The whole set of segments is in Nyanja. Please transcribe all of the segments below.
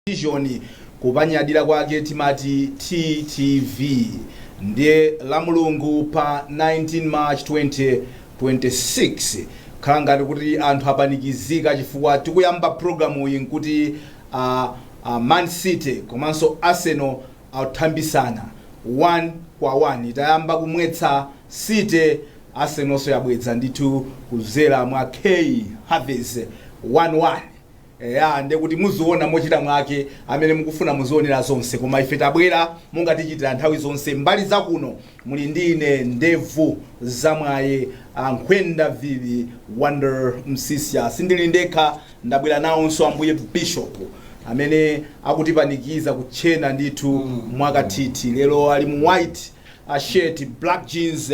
television kupanyadira kwake timati TTV ndiye lamulungu pa 19 march 2026 khala ngati kuti anthu apanikizika chifukwa tikuyamba program yi nkuti a a man city komanso arsenal akuthambitsana 1 kwa 1 itayamba kumwetsa city arsenalso yabweza ndithu kudzera mwa kai havertz 1-1 Eya ndekuti muziona mochita mwake amene mukufuna muzionera zonse koma ife tabwera monga tichitira nthawi zonse mbali za kuno muli ndi ine ndevu za mwaye ankhwenda vivi Wonder Msiska sindili ndekha ndabwera nawonso ambuye bishop amene akutipanikiza kutchena ndithu mwakathithi lero ali mu white a shirt black jeans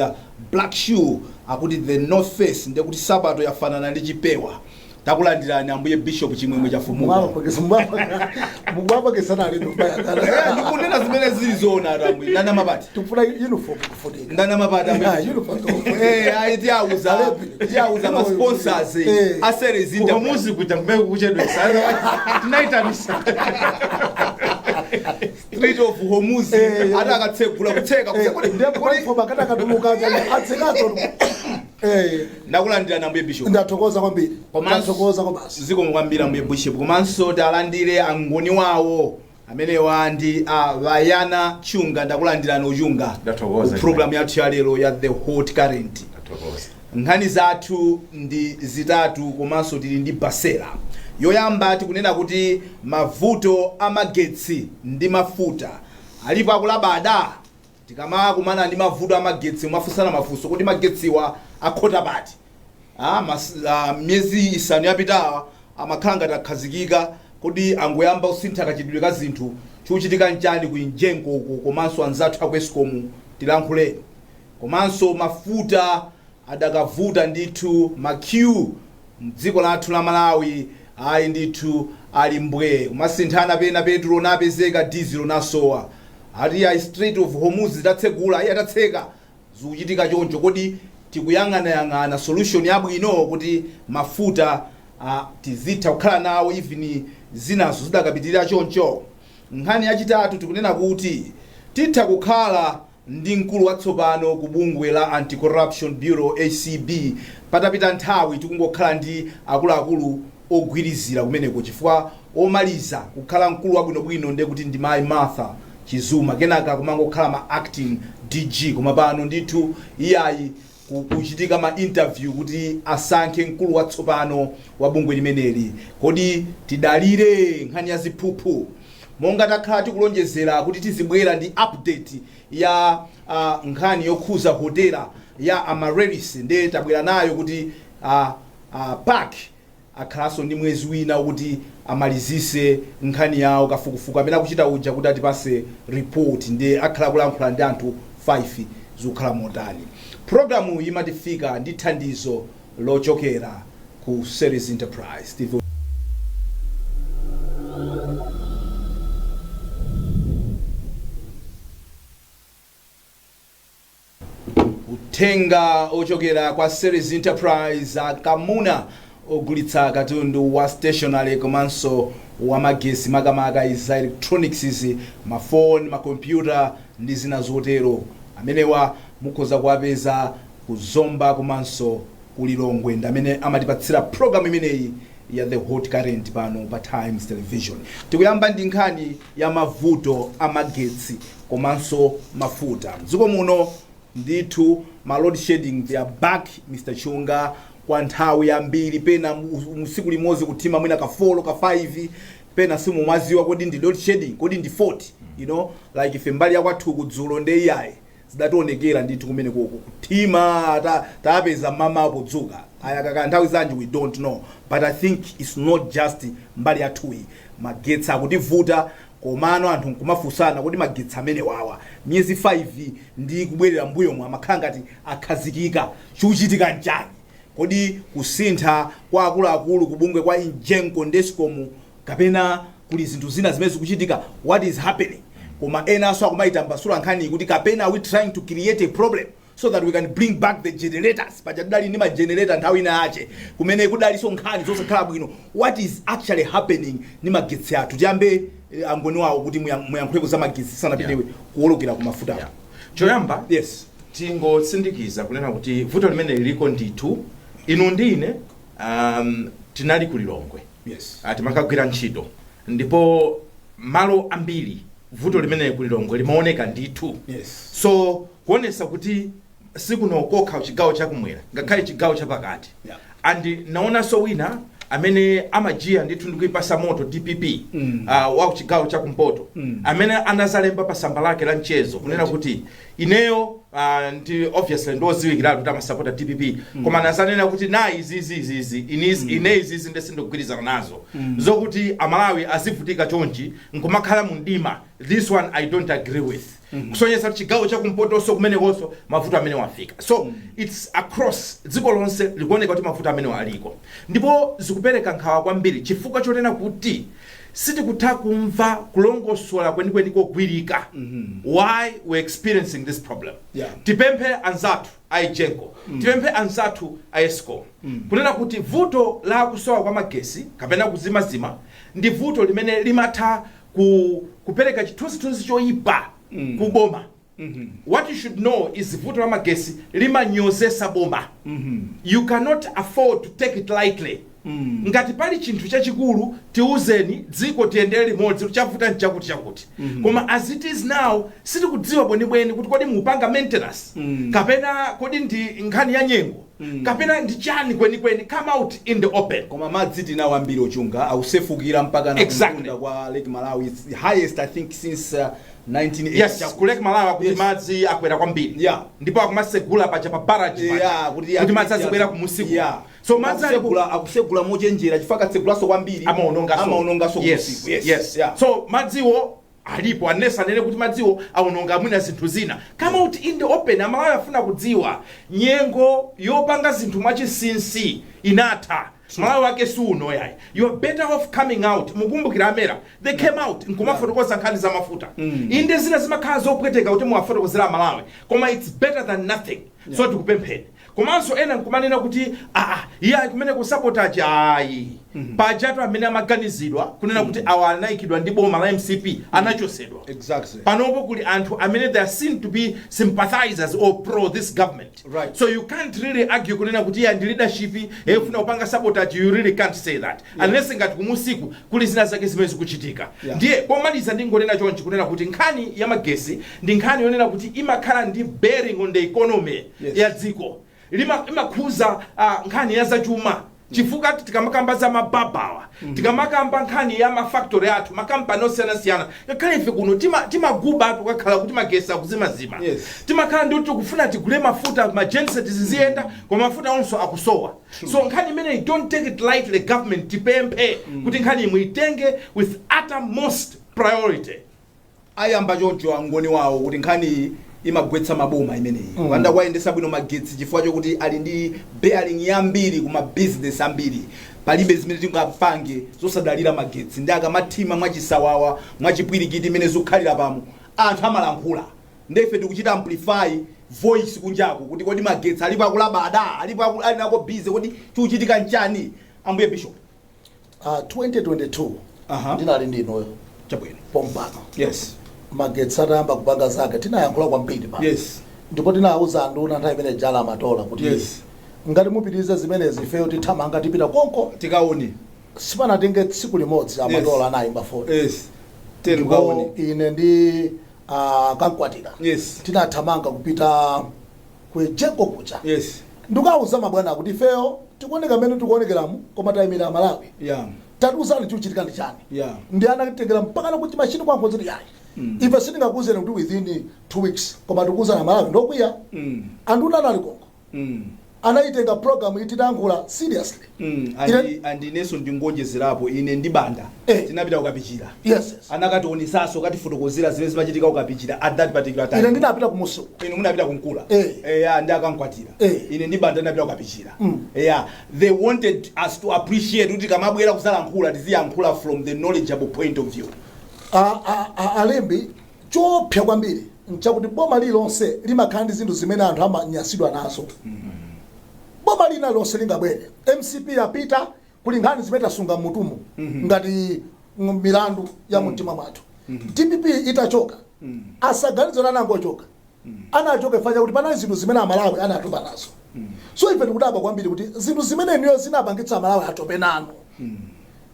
black shoe akuti the north face ndiye kuti nsapato yafanana ndi chipewa takulandirani ambuye bishop chimwemwe chafumuka Mubapakisa, mubapakisa, mubapakisa na lino mbaya kana. Eh, ndikunena zimene zili zoonatu ambuye ndana mapati Tufuna uniform kufunika. ndana mapati ambuye Yeah, Bishop. uniform kufunika. Eh, ayi tiwauza tiwauza ma sponsors Eh. a series Kwa interview muzi kuja kumbe kuchedwetsa. Tinaitanitsa. Strait of Hormuz Eh. ati akatsegula kutseka kuti- kuti- kuti- ndepaifoba kati akatuluka aja atsekanso Eh, ndakulandirani ambuye bishop ndathokoza kwambiri Komanso- ndathokoza kwabasi zikomo kwambiri ambuye bishop komanso talandire angoni wawo amenewa ndi ah, Bayana Chunga ndakulandirani o Chunga Ndathokoza. Ku program yathu ya lero ya the hot current Ndathokoza. Nkhani zathu ndi zitatu komanso tili ndi Basela. Yoyamba tikunena kuti mavuto a magetsi ndi mafuta alipo akulabada? Tikamakumana ndi mavuto a magetsi kumafunsana mafunso, kodi magetsiwa akhota pati? Miyezi isanu yapitawa amakhala ngati akhazikika, kodi angoyamba kusintha kachitidwe ka zinthu? Chikuchitika n'chani ku Egenco uko komanso anzathu aku Escom? Tilankhuleni. Komanso mafuta adakavuta ndithu ma queue mdziko lathu la Malawi ayi ndithu ali mbwee kumasinthana pena petulo napezeka dizilo nasowa ati ayi strait of Hormuz idatsegula ayi adatseka zikuchitika choncho kodi tikuyang'anayang'ana solution yabwino kuti mafuta tizitha kukhala nawo even zinazo zidakapitilira choncho? Nkhani yachitatu tikunena kuti titha kukhala. ndi mkulu watsopano ku bungwe la Anti-Corruption Bureau, acb, patapita nthawi tikungokhala ndi akuluakulu ogwirizira kumeneko chifukwa omaliza kukhala mkulu wabwinobwino ndiye kuti ndi Mayi Martha Chizuma, kenaka kumangokhala ma acting DG koma pano ndithu iyayi Kukuchitika ma interview kuti asankhe mkulu watsopano wa bungwe limeneli. Kodi tidalire nkhani ya ziphuphu? Monga takhala tikulonjezera kuti tizibwera ndi update ya a nkhani yokhuza hotela ya Amaryllis nde tabwera nayo kuti a a PAC. akhalaso ndi mwezi wina okuti amalizise nkhani yawo kafukufuku amene akuchita uja kuti atipase report nde akhala akulankhula ndi anthu 5 zikukhala motani programuyi imatifika ndi thandizo lochokera ku series enterprise Uthenga ochokera kwa Series Enterprise Akamuna ogulitsa katundu wa stationery komanso wa magesi makamaka za electronics ma phone, ma computer ndi zina zotero amenewa mukhoza kuwapeza ku Zomba komanso ku Lilongwe ndi amene amatipatsira program imeneyi ya The Hot Current pano pa Times Television. Tikuyamba ndi nkhani. ya mavuto a magetsi komanso mafuta mdziko muno ndithu ma load shedding they are back Mr Chunga kwa nthawi yambiri pena mu- mu- tsiku limodzi kuthima mwina ka 4 ka 5 pena simumaziwa kodi ndi load shedding kodi ndi fault you know like ife mbali yakwathu kudzulo nde iyayi zidationekera ndithu kumenekoko kuthima ta tapeza mmamawa podzuka ayaka kaya nthawi zanji we dont know but i think its not just mbali yathuyi magetsi akutivuta komano anthu nkumafunsana kodi magetsi amenewawa miyezi 5 ndi kubwerera mbuyomu amakhala ngati akhazikika chikuchitika nchani kodi kusintha kwa akuluakulu kubungwe kwa EGENCO ndi escom kapena kuli zinthu zina zimene zikuchitika what is happening koma enanso akumayitambasula nkhaniyi kuti kapena are we trying to create a problem so that we can bring back the generators paja tidali ndi magenerator nthawi ina yache kumene kudalinso nkhani zosakhala bwino what is actually happening ndi magetsi athu tiyambe eh, angoni wawo kuti muya- muyankhuleko za magetsi tisanapite Yeah. kuwolokera ku mafuta Yeah. choyamba yes tingotsindikiza kunena kuti vuto limene liliko ndithu inu ndi ine um, tinali ku lilongwe Yes. Ah, timakagwira ntchito ndipo malo ambiri vuto limeneli ku lilongwe limaoneka ndithu Yes. so kuonesa kuti sikuno kokha chigawo chakumwera ngakhale chigawo chapakati Yeah. and naonanso wina amene amajiya ndithu ndikuipasa moto dpp mm. uh, wa chigawo chakumpoto mm. amene anazalemba pa samba lake la mchezo kunena kuti ineyo ah, ndi obviously ndioziwikiratu kuti amasapota a dpp koma nazanena kuti na izizi izizi inizi- ine izizi nde sindikugwirizana nazo zokuti amalawi azivutika chonchi nkumakhala mu mdima this one i don't agree with kusonyesa kuti chigawo chakumpotoso kumenekonso mavuto amenewa afika so its across dziko lonse likuoneka kuti mavuto amenewa aliko ndipo zikupereka nkhawa kwambiri chifukwa chonena kuti sitikutha kumva kulongosola kwenikweni kogwirika why we're experiencing this problem Yeah. tipemphe anzathu a egenco tipemphe anzathu a escom kunena kuti vuto la kusowa kwa magesi kapena kuzimazima ndi vuto limene limatha ku, kupereka chithunzithunzi choyipa ku boma what you should know is vuto la magesi limanyozesa boma you cannot afford to take it lightly ngati pali chinthu chachikulu tiuzeni dziko tiyendere limodzi chavuta nchakuti chakuti koma as it is now sitikudziwa bwenibweni kuti kodi mupanga maintenance kapena kodi ndi nkhani ya nyengo kapena ndi chani kwenikweni come out in the open koma madzi tinawo ambiri ochunga akusefukira mpakana Exactly. kumtunda kwa lake malawi It's the highest i think since uh, 1980 yes chakuti. ku lake malawi akuti Yes. madzi akwera kwambiri Yeah. ndipo akumasegula paja pa barrage Yeah, paja, kuti kuti madzi azibwera kumusiku Yeah. so madzi ali ku- Akusegula- akusegula mochenjera chifukwa akatsegulanso kwambiri amaonongaso amaonongaso yes, kumusiku. Yes, yes. yeah. so madziwo alipo unless anene kuti madziwo aononga mwina zinthu zina come out in the open amalawi afuna kudziwa nyengo yopanga zinthu mwachisinsi inatha Malawi wake si uno yayi. You're better off coming out. Mukumbukira a Mera? They came out nkumafotokoza nkhani za mafuta. Inde zina zimakhala zopweteka kuti muwafotokozere a Malawi koma it's better than nothing. So tikupempheni. Komanso ena nkumanena kuti iyayi kumeneku sabotage ayi. Pajatu amene amaganizidwa kunena kuti awa anayikidwa ndi boma la mcp anachosedwa. Exactly. Panopo kuli anthu amene they are seen to be sympathizers or pro this government. Right. So you can't really argue kunena kuti iyayi ndi leadership yafuna kupanga sabotage you really can't say that. Unless ngati kumusiku kuli zina zake zimene zikuchitika. Yeah. Ndiye pomaliza ndingonena chonchi kunena kuti nkhani ya magesi ndi nkhani yonena kuti imakhala ndi bearing on the economy Yes. ya dziko. Lima imakhuza ah, nkhani ya zachuma. chifukwa tikamakamba za ma barber awa tikamakamba nkhani ya ma factory athu makampani osiyanasiyana ngakhale ife kuno tima- timagubatu kukakhala kuti magesi akuzimazima Yes. timakhala ndi kuti tikufuna tigule mafuta ma genset ziziyenda koma mafuta onso akusowa so nkhani imeneyi don't take it lightly government tipemphe kuti nkhani imwe muitenge with uttermost priority ayamba choncho angoni wawo kuti nkhaniyi imagwetsa maboma imeneyi mm. kupanda kuwayendetsa bwino magetsi chifukwa chokuti ali ndi bearing yambiri kuma business ambiri palibe zimene tingapange zosadalira magetsi ndi akamathima mwachisawawa mwachipwirikiti mmene zikukhalira pano anthu amalankhula ndefe tikuchita amplify voice kunjaku kuti kodi magetsi alipo akulabada alipo aku- ali nako busy kodi chikuchitika nchani ambuye bishop Ah, 2022 Aha. ndinali ndi inuyo chabwino pompano yes magetsi atayamba kupanga zake tinayankhula kwambiri pa yes ndipo tinawuza anduna nthawi imene ija ali amatola kuti Yes. ngati mupitiriza zimenezi ifeyo tithamanga tipita konko tikaone sipanatenge tsiku limodzi amatola Yes. anayimba foni yes tiyeni tikaone ine ndi ah, kamkwatira yes tinathamanga kupita ku egenco kuja yes ndikawuza mabwana kuti ifeyo tikuoneka mmene tikuonekeramu koma tayimira amalawi yeah tatiuzani chikuchitika ndi chani Yeah. ndi anatengera mpakana kuti machini kuwauza kuti yayi ife sitingakuuzeni kuti within two weeks koma tikuuzani amalawi ndokwiya mm anduna anali konko mm anayitenga program titayankhula seriously Mm, Ine- andi- and ineso ndingoonjezerapo ine ndi banda Eh. tinapita kukapichira yes yes. anakationesaso katifotokozera zimene zimachitika kukapichira at that particular time ine ndinapita kumunsi uko inu munapita kunkula Eh. eya ndi akamkwatira Eh. ine ndi banda tinapita kukapichira Mm. eya they wanted us to appreciate kuti tikamabwera kuzalankhula tiziyankhula from the knowledgeable point of view A- a- a- alembi Choopsa kwambiri n'chakuti boma lililonse limakhala ndi zinthu zimene anthu amanyansidwa nazo. Boma lina lililonse lingabwere, mcp yapita, kuli nkhani zimene tasunga m'mutumu ngati ng- milandu ya mumtima mwathu. Dpp itachoka, asaganize kuti anangochoka. anachoka chifukwa chakuti panali zinthu zimene amalawi anatopa nazo so ife tikudabwa kwambiri kuti zinthu zimene inuyo zinapangitsa amalawi atope nanu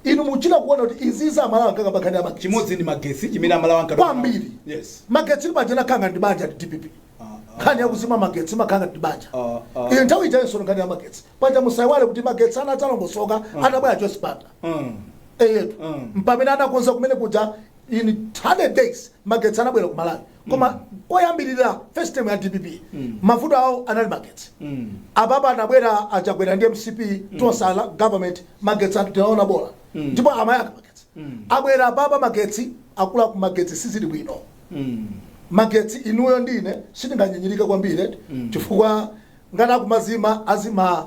inu muchita kuona kuti izizi amalawi ankakamba nkhani ya magetsi chimodzi ndi magesi chimene amalawi ankatopa nawo. Kwambiri. yes magetsi limachena khanga ndi banja ndi dpp nkhani yakuzima magetsi makhanga ndi banja Ah, ah. iyi nthawi ijayenso nkhani ya magetsi paja musayiwale kuti magetsi anadzalongosoka atabwera joyce banda Mm. eyetu Mm. mpamene anakonza kumene kuja in 100 days magetsi anabwera ku malawi koma koyambirira first term ya dpp mavuto awo anali magetsi apapa anabwera achakwera ndi mcp tonse alliance government magetsi anthu tinaona bola ndipo amayaka magetsi abwera apapa magetsi akula ku magetsi sizili bwino magetsi inuyo ndi ine sitinganyinyirike kwambiri chifukwa ngati akumazima azima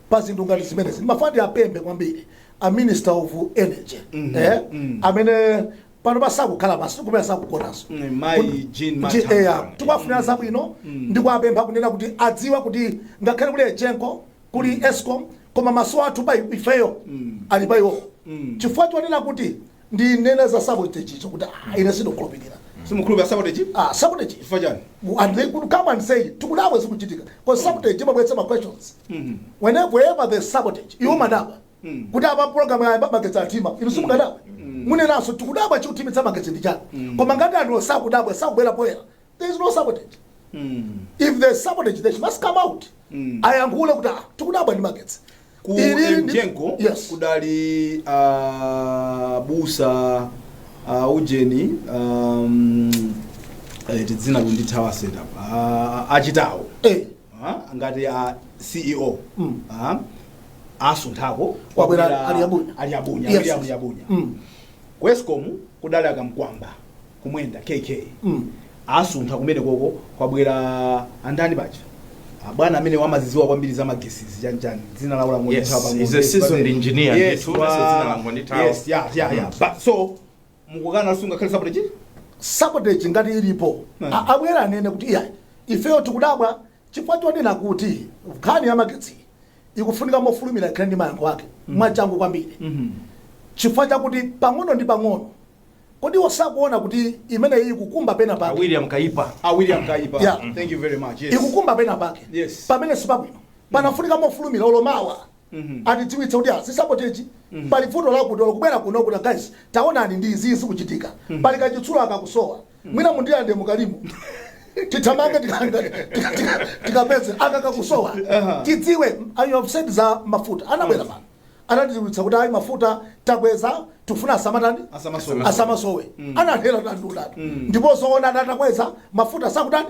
pa zinthu ngati zimenezi ndimafuna ndiwapemphe kwambiri a minister of energy eh, amene panopa sakukhala pansi kumene sakugonaso Mm, Mayi Jean Mathanga. tikuwafunira zabwino ndi kuwapempha kunena kuti adziwe kuti ngakhale kuli egenco kuli escom koma maso athu pa ifeyo ali pa iwowo chifukwa chonena kuti ndinena za sabotage icho kuti ah, ine sindikukhulupirira simukhulupirira sabotage ah, sabotage chifukwa chani Mu- and they could come and say tikudabwa zikuchitika because sabotage imabweretsa ma questions whenever there's sabotage iwo amadabwa kuti apa program ya magetsi atima inu simukadabwa munenanso tikudabwa chikutimitsa magetsi ndi chani koma ngati anthu sakudabwa sakubwera poyera there is no sabotage if there is sabotage they must come out ayankhule kuti ah tikudabwa ndi magetsi ku Ili ndi- Egenco yes kudali ah, busa ah, ujeni um, eh, dzina likundithawa setup Ah, achitawo eh Ah, ngati a ceo ah, asunthako Kwabwera kwabwera a Liabunya. a Liabunya Yes. William Liabunya Mm. ku escom kudali a Kamkwamba Kumwenda kk Mm. asuntha kumene koko kwabwera andani paja abwana amene wamaziziwa kwambiri za magesizi chanchani dzina lawo Yes, he's a seasoned engineer. Ndithu, that's dzina langondithawa. so mukukana sungakhale sabotage sabotage ngati ilipo mm. abwere anene kuti iya ifeyo tikudabwa chifukwa chonena kuti nkhani ya magetsi ikufunika mofulumira ikhale ndi mayankho ake mm. mwachangu kwambiri mm -hmm. chifukwa chakuti pang'ono ndi pang'ono kodi osakuona kuti imene iyi ikukumba pena pake William Kaipa a William Kaipa yeah. thank you very much yes. ikukumba pena pake yes. pamene sipabwino panafunika mofulumira olo mawa atidziwitse kuti ah si sabotage pali vuto lakuti olo kubwera kuno kuti guys taonani ndi izi zikuchitika pali kachitsulo aka kakusowa mwina mundiyande mukalimu tithamange tika- tika- tika- tikapeze aka kakusowa tidziwe awo of course za mafuta anabwera pano anatidziwitsa kuti ayi mafuta takweza tifuna asamatani Asamasowe. asamasowe ananeneratu ndithu ndipo zoona atakweza mafuta sakutani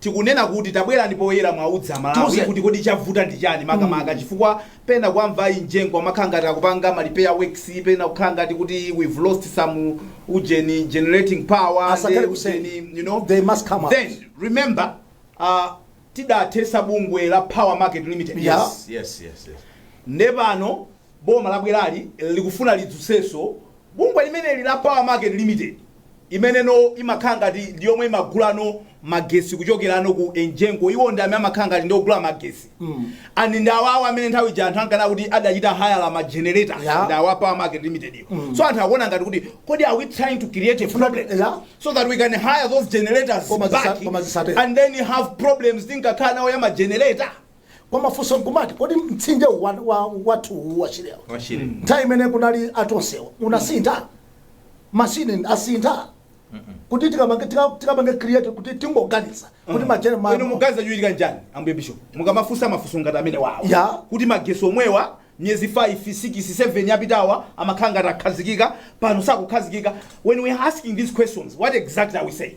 Tikunena kuti tabwerani poyera muwauze amalawi kuti kodi chavuta ndi chani makamaka chifukwa pena kuwamva a Egenco amakhala ngati akupanga ma repair works pena ukhala ngati kuti we've lost some ujeni generating power Asakhale nde kuseri. ujeni, you know They must come out. then remember uh, tidathetsa bungwe la power market limited Yes. Yes, yes, yes. nde pano Boma labwerali likufuna lidzutsenso bungwe limeneli la Power Market Limited imeneno imakhala ngati ndi yomwe imagulano magesi kuchokerano ku Egenco iwo ndi amene amakhala ngati ndi ogula magesi and ndi awawa amene nthawi ija anthu ankanena kuti adachita hire ma generators Yeah. ndi awa Power Market Limited yo so anthu akuona ngati kuti kodi are we trying to create a problem Yeah. so that we can hire those generators Koma zisa- back koma zisatero. and then have problems tinkakhala nawo ya ma generator koma funso nkumati kodi mtsinje uwu wa- wa- wathu uwu wa shire nthawi imene kunali a Tonsewo unasintha mashini asintha kuti tikamange tika- tikamange create kuti tingoganiza kuti inu majenereta muganiza chochitika nchani ambuye bishop mukamafunsa mafunso ngati amene wawo Ya. kuti magetsi omwewa miyezi 5 6 7 yapitawa amakhala ngati akhazikika pano sakukhazikika when we are asking these questions what exactly are we saying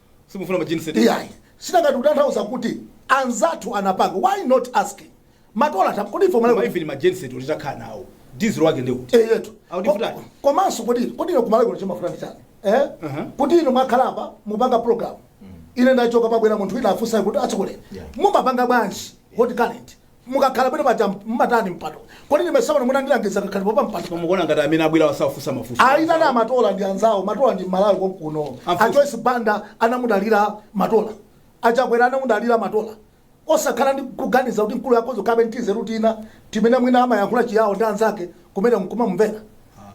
simufuna ma genset iyayi sinangati kutanthauza kuti anzathu anapanga why not asking matola tam kodi formula even ma genset ulitakhala nawo diesel wake ndi uti eyetu How different? komanso kodi kodi ino kumalagula chimafutani chani eh Uh-huh. kuti ino mwakhala apa mupanga program ine ndachoka pabwera munthu wina afunsa kuti achikulire Yeah. mumapanga bwanji hot current mukakhala bwino paja mumatani mpando kodi ndime seven munandilangiza kakhalidwe pa mpando Koma mukuona ngati amene abwera wasafunsa mafunso. ayitani amatola ndi anzawo matola ndi mmalawi konkuno Mafunso. a joyce banda anamudalira matola a Chakwera anamudalira matola osakhala ndi kuganiza kuti mkulu yakozo kabe ntize rutina timene mwina amayankhula chiyawo ndi anzake kumene mkumamumvera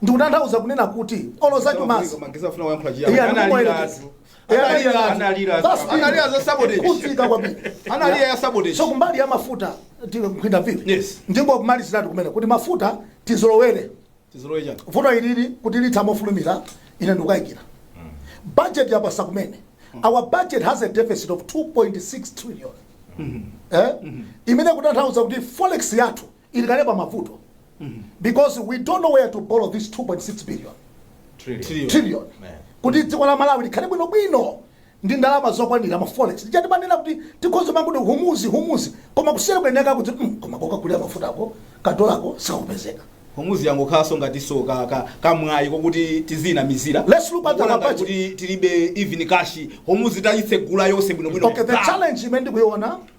ndikutanthauza kunena kuti oloza chumazi Koma ngizafuna kuyankhula chiyani. Iya, Ana ndikumoyera. alira atu. Eh, Analira analira- analira- That's it. analira za sabotage. Kutsika kwambiri. Analira ya sabotage. so kumbali ya mafuta ti- nkhwinda vivi Yes. ndingo kumaliziratu kumene kuti mafuta tizolowere Tizolowere chani. vuto ilili kuti litha mofulumira ine ndikukayikira budget yapasa kumene our budget has a deficit of 2.6 trillion eh? imene kutanthauza kuti forex yathu ili kale pa mavuto because we don't know where to borrow this 2.6 billion Trillion. trillion Man. kuti dziko la malawi likhale bwinobwino ndi ndalama zokwanira ma forex nditha kumanena kuti tikhoza kumangoti Hormuz Hormuz koma kusiyana kwenikweni kuti mm, koma kokagulira mafutako kadolako sikakupezeka Hormuz yangokhalanso ngatinso ka- ka- kamwayi kokuti tizinamizira Let's look at the Kuona ngati budget. kuti tilibe even cash Hormuz atayitsegula yonse bwinobwino okay the challenge imene ndikuiona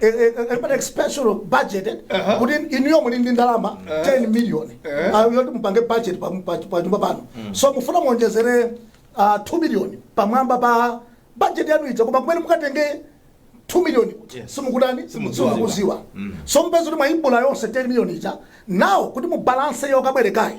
eh, eh, eh, expansion of budget eh, Uh-huh. kuti inuyo muli ndi ndalama 10 million Eh. Ah, yoti mupange budget pa- pa- pa nyumba pano so mufuna muonjezere ah, 2 million pamwamba pa budget yanu ija koma kumene mukatenge 2 million kuti Yes. simukudani Simudziwa. simukuziwa so mpeza kuti mwaibula yonse 10 million ija now kuti mubalanse yokabwerekayi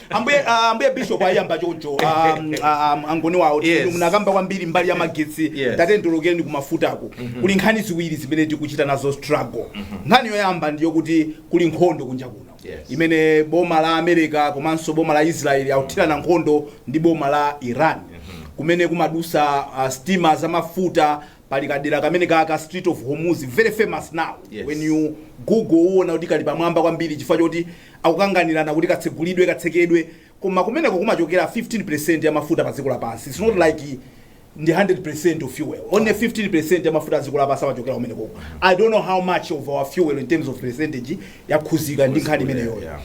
ambuye ah, ambuye bishop ayamba choncho ah, mm, ah, ah, angoni wawo Yes. yes. munakamba kwambiri mbali ya magetsi Yes. tatengulekeni kumafutako kuli nkhani ziwiri zimene tikuchita nazo struggle nkhani yoyamba ndiyo kuti kuli nkhondo kunja kuno Yes. imene boma la america komanso boma la israeli akuthirana nkhondo ndi boma la iran kumene kumadusa uh, stima zamafuta pali kadera kamene ka ka Strait of Hormuz very famous now Yes. when you google uona kuti kali pamwamba kwambiri chifukwa choti akukanganirana kuti katsegulidwe katsekedwe koma kumeneko kumachokera 15% ya mafuta pa dziko lapansi its not like the 100% of fuel only 15% ya mafuta a dziko lapansi amachokera kumenekoko i don't know how much of our fuel in terms of percentage yakhuzika ndi nkhani imeneyoyo Yeah.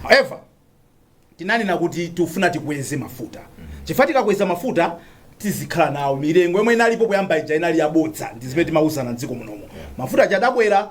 however tinanena kuti tikufuna tikweze mafuta chifukwa tikakweza mafuta tizikhala nawo mitengo yomwe inalipo kuyamba ija inali yabodza ndi zimene timauzana mdziko munomo mafuta aja adakwera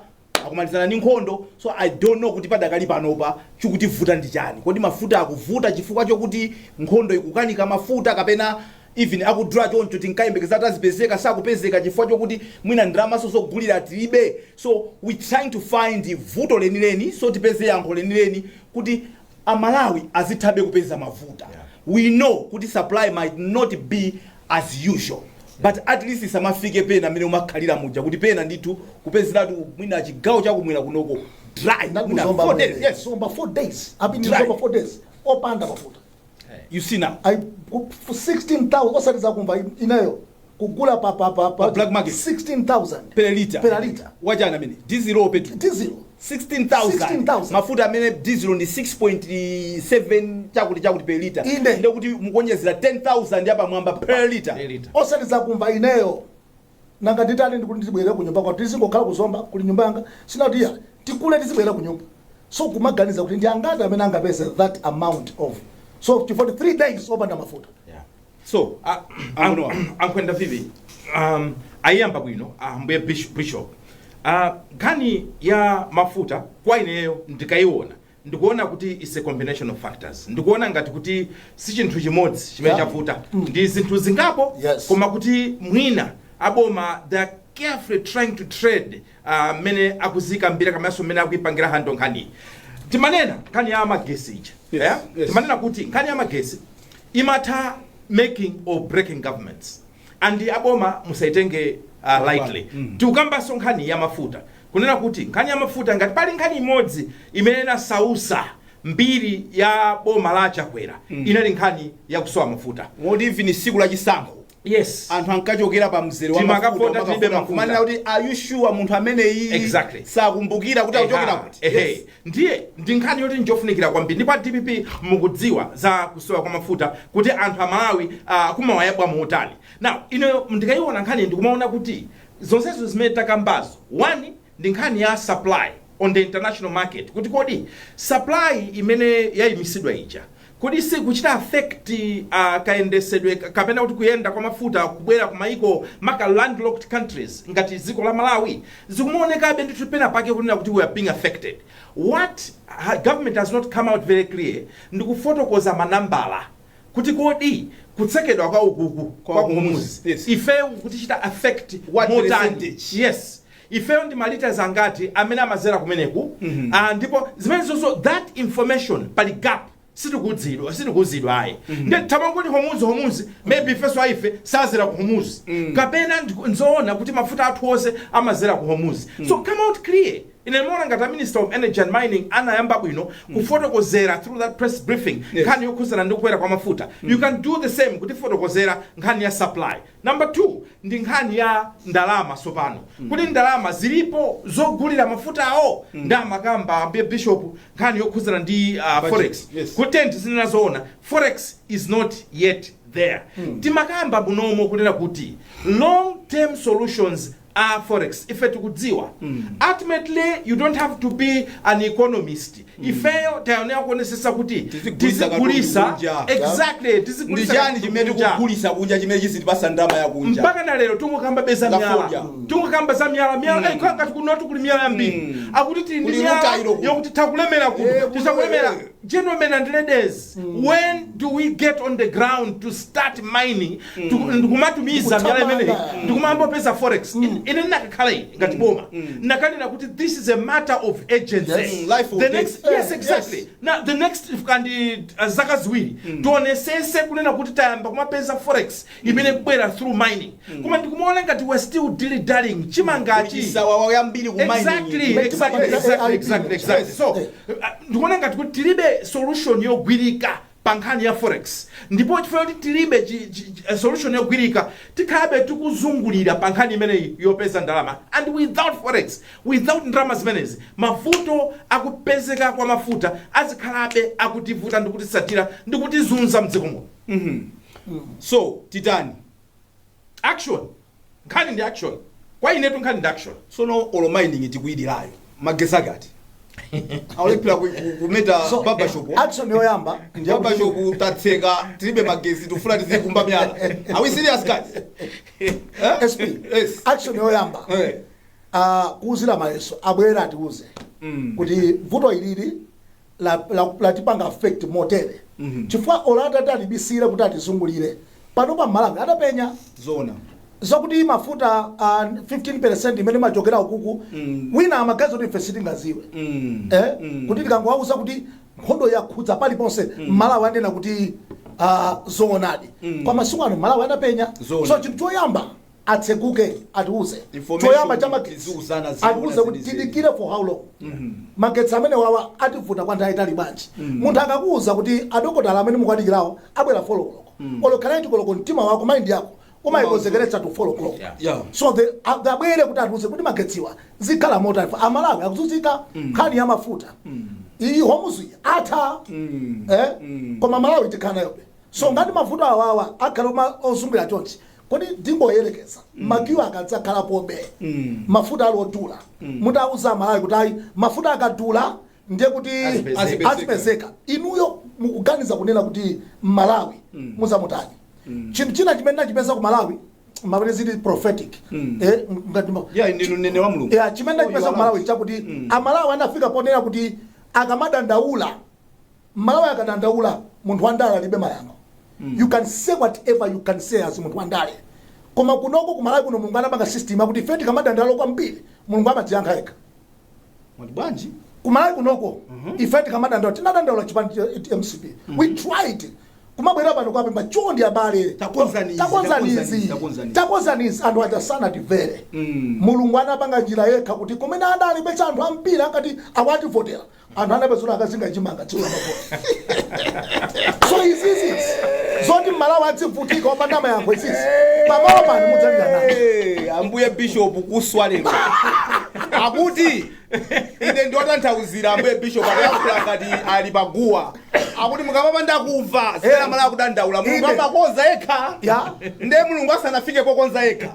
kusanayambe ndi nkhondo so i don't know kuti padakali panopa chikutivuta ndi chani kodi mafuta akuvuta chifukwa chokuti nkhondo ikukaniza mafuta kapena even akudula choncho tinkayembekeza kuti azipezeka sakupezeka chifukwa chokuti mwina ndalamanso zogulira tilibe so we trying to find vuto lenileni so tipeze yankho lenileni kuti a Malawi azithabe kupeza mafuta we know kuti supply might not be as usual but at least isamafike pena mmene umakhalira muja kuti pena ndithu kupezeratu mwina chigawo chakumwera kunoko dry mwina four days, yes. zomba 4 days I've been dry. zomba 4 days opanda mafuta you see now I, ku- 16,000 osati zakumva in- ineyo kugula pa, pa, pa, pa Pa black market. 16,000 per liter Per liter. wachani ameneyo diesel or petrol diesel 16,000 16,000. mafuta amene diesel ndi 6.7 chakuti chakuti per liter Inde. ndekuti mukuonjezera 10,000 yapamwamba per liter osati zakumva ineyo Nanga nditani ndikuti ndizibwerera kunyumba kwathu tizingokhala ku Zomba kuli nyumba yanga sinati iyayi tigule tizibwerera kunyumba so kumaganiza kuti ndi angati amene angapeze that amount of so chifukwa ndi 3 days opanda mafuta Yeah. so a- Ambuye wa- a- a Nkhwenda Vivi um, ayiyamba bwino ambuye bish- bishop Ah, nkhani ya mafuta kwa ineyo ndikayiona Ndikuona kuti its a combination of factors. Ndikuona ngati kuti sichinthu chimodzi chimene Yeah. chavuta. Mm. Ndi zinthu zingapo Yes. koma kuti mwina aboma they are carefully trying to tread ah, mmene akuzikambira komanso mmene akuipangira handle nkhani. Timanena nkhani ya magesi ija. Yes, Yeah? yes. Timanena kuti nkhani ya magesi imatha making or breaking governments. And aboma musaitenge uh, lightly. Tikukambanso nkhani ya mafuta. kunena kuti nkhani ya mafuta ngati pali nkhani imodzi imene inasausa mbiri ya boma la a Chakwera mm. inali nkhani ya kusowa mafuta moti even siku la chisankho yes anthu ankachokera pa mzere wa mafuta kumanena kuti are you sure munthu amene iyi exactly. sakumbukira kuti akuchokera kuti yes. ndiye ndi nkhani yoti njofunikira kwambiri ndipo dpp mukudziwa za kusowa kwa mafuta kuti anthu a malawi uh, ah, kumawayabwa muntima now ine ndikaiona nkhani ndikumaona kuti zonsezo zimene takambazo, one ndi nkhani ya supply on the international market kuti kodi supply imene yayimisidwa ija kodi sikuchita affect uh, kayendesedwe ka- kapena kuti kuyenda kwa mafuta kubwera ku maiko maka-maka landlocked countries ngati dziko la malawi zikumaonekabe ndithu pena pake kunena kuti we are being affected what ha- government has not come out very clear ndikufotokoza manambala kuti kodi kutsekedwa kwa ukuku Kwa kwa Hormuz, Hormuz yes. ifeyo kukutichita affect What motani percentage? yes ifeyo ndi malitas angati amene amazera kumeneku Ah, ndipo zimenezozo that information pali gap sitikuuzidwa sitikuuzidwa ayi nde timangoti homuzi homuzi maybe ifeso a ife sazera ku homuzi kapena ndi- nzoona kuti mafuta athu onse amazera ku homuzi so come out clear Ine ndimaona ngati a Minister of Energy and Mining anayamba bwino kufotokozera through that press briefing nkhani yokhuzana ndi kukwera kwa mafuta. You can do the same kutifotokozera nkhani ya supply. Number two ndi nkhani ya ndalama tsopano. Kuti ndalama zilipo zogulira mafutawo nde amakamba ambuye Bishop nkhani yokhuzana ndi uh, forex. Yes. Kuti tizinena zoona forex is not yet there. Timakamba munomo kunena kuti long term solutions za forex ife tikudziwa ultimately you don't have to be an economist ifeyo tayenera kuonesesa kuti Tizigulitsa katundu tizigulisa kunja, exactly ndi tizigulisa chani katundu chimene kunja. tikugulisa kunja chimene chizitipasa ndalama yakunja mpaka na lero tungokambabe za Za myala fodya. tungokamba za myala myala mm. ngati kunotu kuli myala yambiri akuti tili ndi Kuli myala rutile kuno. yokuti takulemera kuno Eh, kuno, tisakulemera eh. gentlemen and ladies when do we get on the ground to start mining Ndiku- ndikumatumiza miyala imeneyi Ndikuthamanga. ndikumayamba kupeza forex In- ine ndinakakhala ine ngati boma nakanena kuti this is a matter of urgency Yes. Mm, life or the death. next yes Yes. exactly now the next kandi uh, zaka ziwiri tionesese kunena kuti tayamba kumapeza forex imene kubwera through mining koma ndikumaona ngati we're still dilly dallying tikumangochita za wawa zambiri ku exactly mining. Make exactly money. exactly exactly exactly so uh, ndikuona ngati kuti tilibe solution yogwirika pa nkhani ya forex ndipo chifukwa choti tilibe chi, chi, chi, eh, solution yogwirika tikhalabe tikuzungulira pa nkhani imeneyi yopeza ndalama and without forex without ndalama zimenezi mavuto akupezeka kwa mafuta azikhalabe akutivuta ndikutisatira ndikutizunza mdziko muno so titani Action nkhani ndi action kwa inetu nkhani ndi action. Sono olo mining tikuidalirayo magesi ake ati? Akulephera ku- ku- kumeta So, barber shop. action yoyamba ndi Barber yakuti- shop tatseka tilibe magesi tufuna tizikumba myala. Are we serious guys? Eh? SP Yes. action yoyamba Eh. ah, kuuzira mayeso abwere atiuze kuti vuto ilili la, la, latipanga affect motere chifukwa olo atati atibisire kuti atizungulire pano pa malawi adapenya zona zakuti mafuta uh, 15% imene imachokera ukuku Mm. wina amaganiza kuti ife sitingaziwe Mm. eh? Mm. kuti tikangowauza kuti nkhondo yakhudza paliponse mmalawi anena kuti uh, zoonadi Mm. kwa masiku ano mmalawi anapenya Zoona. so chinthu choyamba atseguke atiuze Information choyamba cha magetsi iziuzana zina atiuze kuti zilizili. tidikire for how long magetsi amene awawa ativuta kwa nthawi yaitali bwanji munthu akakuuza kuti adokotala amene mukuwadikirawo abwera folo koloko olo ikhala eyiti koloko mtima wako mind yako umayikonzekeretsa to folo koloko Yeah. Yeah. so the a- the abwere kuti atiuze kuti magetsiwa zikhala motani ife amalawi akuzunzika nkhani ya mafuta iyi Hormuz yatha eh? koma malawi tikhala nayobe so ngati mavuto awawa akhala oma- ozungulira chonchi Kodi tingoyelekeza ma queue akadzakhalapobe mafuta ali odula mutawauza amalawi kuti ayi mafuta akadula ndiye kuti azipezeka inuyo mukuganiza kunena kuti mmalawi muzamutani chinthu china chimene ndachipeza ku malawi kapena zili prophetic eh, ngati ma- Yeah, ndinu mneneri wa Mulungu. yeah, chimene ndachipeza ku malawi chakuti amalawi anafika ponena kuti akamadandaula M'malawi akadandaula munthu wandale alibe mayankho you can say whatever you can say as munthu wandale koma kunoko ku malawi kuno mulungu anapanga system yakuti ife tikamadandaula kwambiri mulungu amadziyankha yekha Mwati bwanji? ku malawi kunoko ife tikamadandaula tinadandaula chipani cha mcp we tried kumabwera pano kuwapempha chondi abale Takonzani izi, takonzani takonzani izi, izi takonzani izi. takonzani izi anthu aja sanatimvere Mm. mulungu anapanga njira yekha kuti kumene adali pesa anthu ambiri ankati awa ativotera anthu anapezeka akukazinga chimanga tsiku la mavoti so izizi zoti mmalawi adzivutika opanda mayankho izizi pamalo pano mudzalira nawo Hey, ambuye bishop kuswa lero akuti ine ndiwatanthauzire ambuye bishop akuyankhula ngati ali paguwa akuti mukamapanda kumva zimene amalawi akudandaula mulungu Ine. amakonza yekha Ya. nde mulungu asanafike pokonza yekha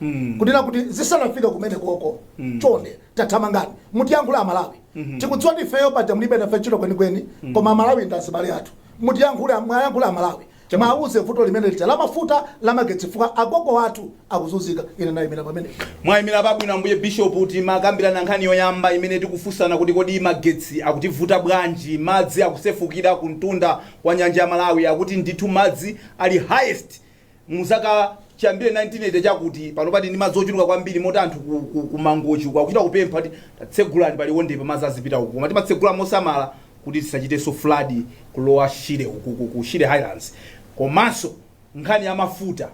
mm. kunena kuti zisanafike kumene koko mm. chonde tathamangani mutiyankhule amalawi mm -hmm. tikudziwa kuti ifeyo paja mulibe nafe ntchito kwenikweni mm. koma amalawi ndi azibale athu mutiyankhule mwayankhule amalawi mwauze vuto limene lija la mafuta la magetsi fukwa agogo athu akuzunzika ine ndayimira pamenepo mwayimira pabwino ambuye bishop timakambirana nkhani yoyamba imene tikufunsana kuti kodi magetsi akutivuta bwanji madzi akusefukira kumtunda kwa nyanja ya malawi akuti ndithu madzi ali highest Mu zaka chiyambire 1980 chakuti, panopa tili ndi madzi ochuluka kwambiri moti anthu ku, ku, ku Mangochi uku akuchita kupempha kuti tatsegulani pa Liwondepa madzi azipita uku. Koma timatsegula mosamala kuti tisachitenso flood kulowa Shire uku ku, ku Shire Highlands. Komanso nkhani ya mafuta,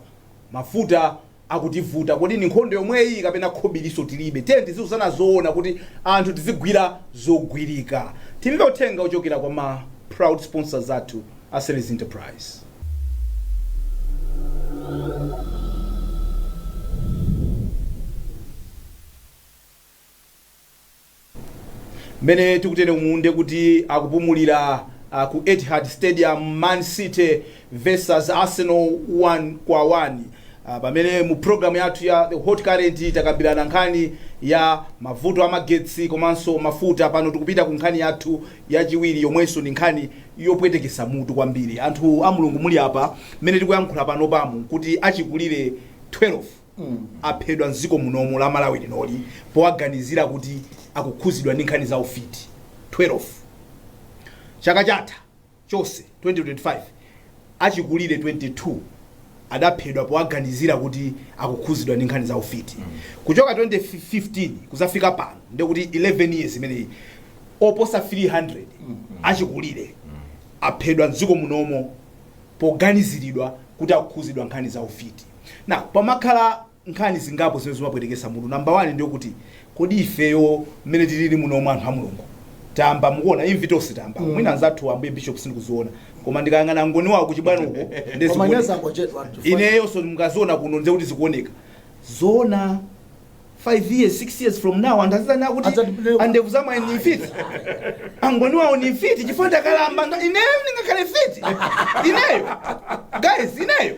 mafuta akutivuta. Kodi ndi nkhondo yomweyi kapena khobirinso tilibe? Tiyeni tiziuzana zoona kuti anthu tizigwira zogwirika. Timve uthenga wochokera kwa ma proud sponsors athu. Asseles Enterprise. Mmene tikutere umu nde kuti akupumulira uh, ku Etihad Stadium Man City versus Arsenal 1 kwa 1 uh, pamene mu program yathu ya The Hot Current takambirana nkhani ya mavuto a magetsi komanso mafuta pano tikupita ku nkhani yathu yachiwiri yomwenso ndi nkhani yopwetekesa mutu kwambiri anthu a mulungu muli apa mmene tikuyankhula panopamu nkuti achikulire 12 aphedwa mdziko munomu la malawi linoli powaganizira kuti akukhuzidwa ndi nkhani za ufiti 12 chaka chatha chonse 2025 Achikulire 22 adaphedwa powaganizira kuti akukhuzidwa ndi nkhani za ufiti. Kuchoka 2015 kuzafika pano ndiye kuti 11 years imeneyi oposa 300 achikulire aphedwa mdziko munomo poganiziridwa kuti akukhuzidwa nkhani za ufiti. Na pamakhala nkhani zingapo zimene zimapwetekesa mutu. Number 1 ndiyokuti kodi ifeyo mmene tilili munomu anthu a Mulungu tayamba mukuona imvi tonse tayambako mwina anzathu ambuye bishop sindikuziona koma ndikayang'ana angoni wawo kuchibwano uko nde Koma nyasa zikuoneka. angochedwa anthu. ineyo so mukaziona kuno nde kuti zikuoneka zoona 5 years 6 years from now anthu azizanena kuti Adzatipeleka. a Ndevu za Mwayi ni mfiti angoni wawo ni mfiti chifukwa ndakalamba nda- ineyo ndingakhale mfiti ineyo guys ineyo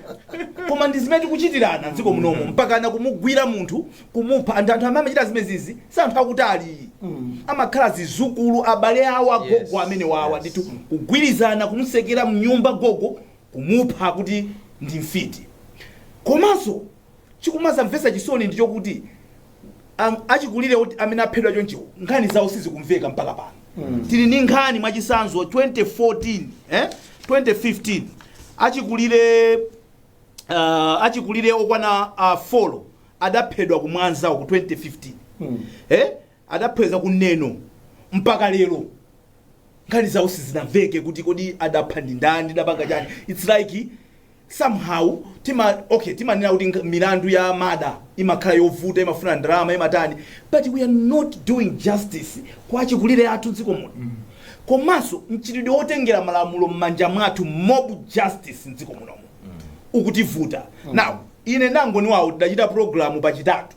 koma ndi zimene tikuchitirana mdziko munomo mpakana kumugwira munthu kumupha anthu anthu amene amachita zimenezizi si anthu akutali amakhala zizukulu abale awo agogo Yes, amene wawa yes. ndithu kugwirizana kumutsekera mnyumba gogo kumupha kuti ndi mfiti komanso chikumazamvetsa chisoni ndi chokuti am- achikulire oti- amene aphedwa chonchiwo nkhani zawo sizikumveka mpaka pano tili ndi nkhani mwachitsanzo 2014 eh? 2015 achikulire uh, achikulire okwana uh, folo adaphedwa ku mwanza ku 2015 eh? adaphedwa ku neno mpaka lero nkhani zawo sizinamveke kuti kodi adapha ndi ndani adapanga chani its like somehow tima okay timanena kuti nk- milandu ya murder imakhala yovuta imafuna ndalama imatani but we are not doing justice kwa achikulire athu mdziko muno komanso mchitidwe wotengera malamulo m'manja mwathu mob justice mdziko munomo ukutivuta now ine ndi angoni wawo tidachita programu pachitatu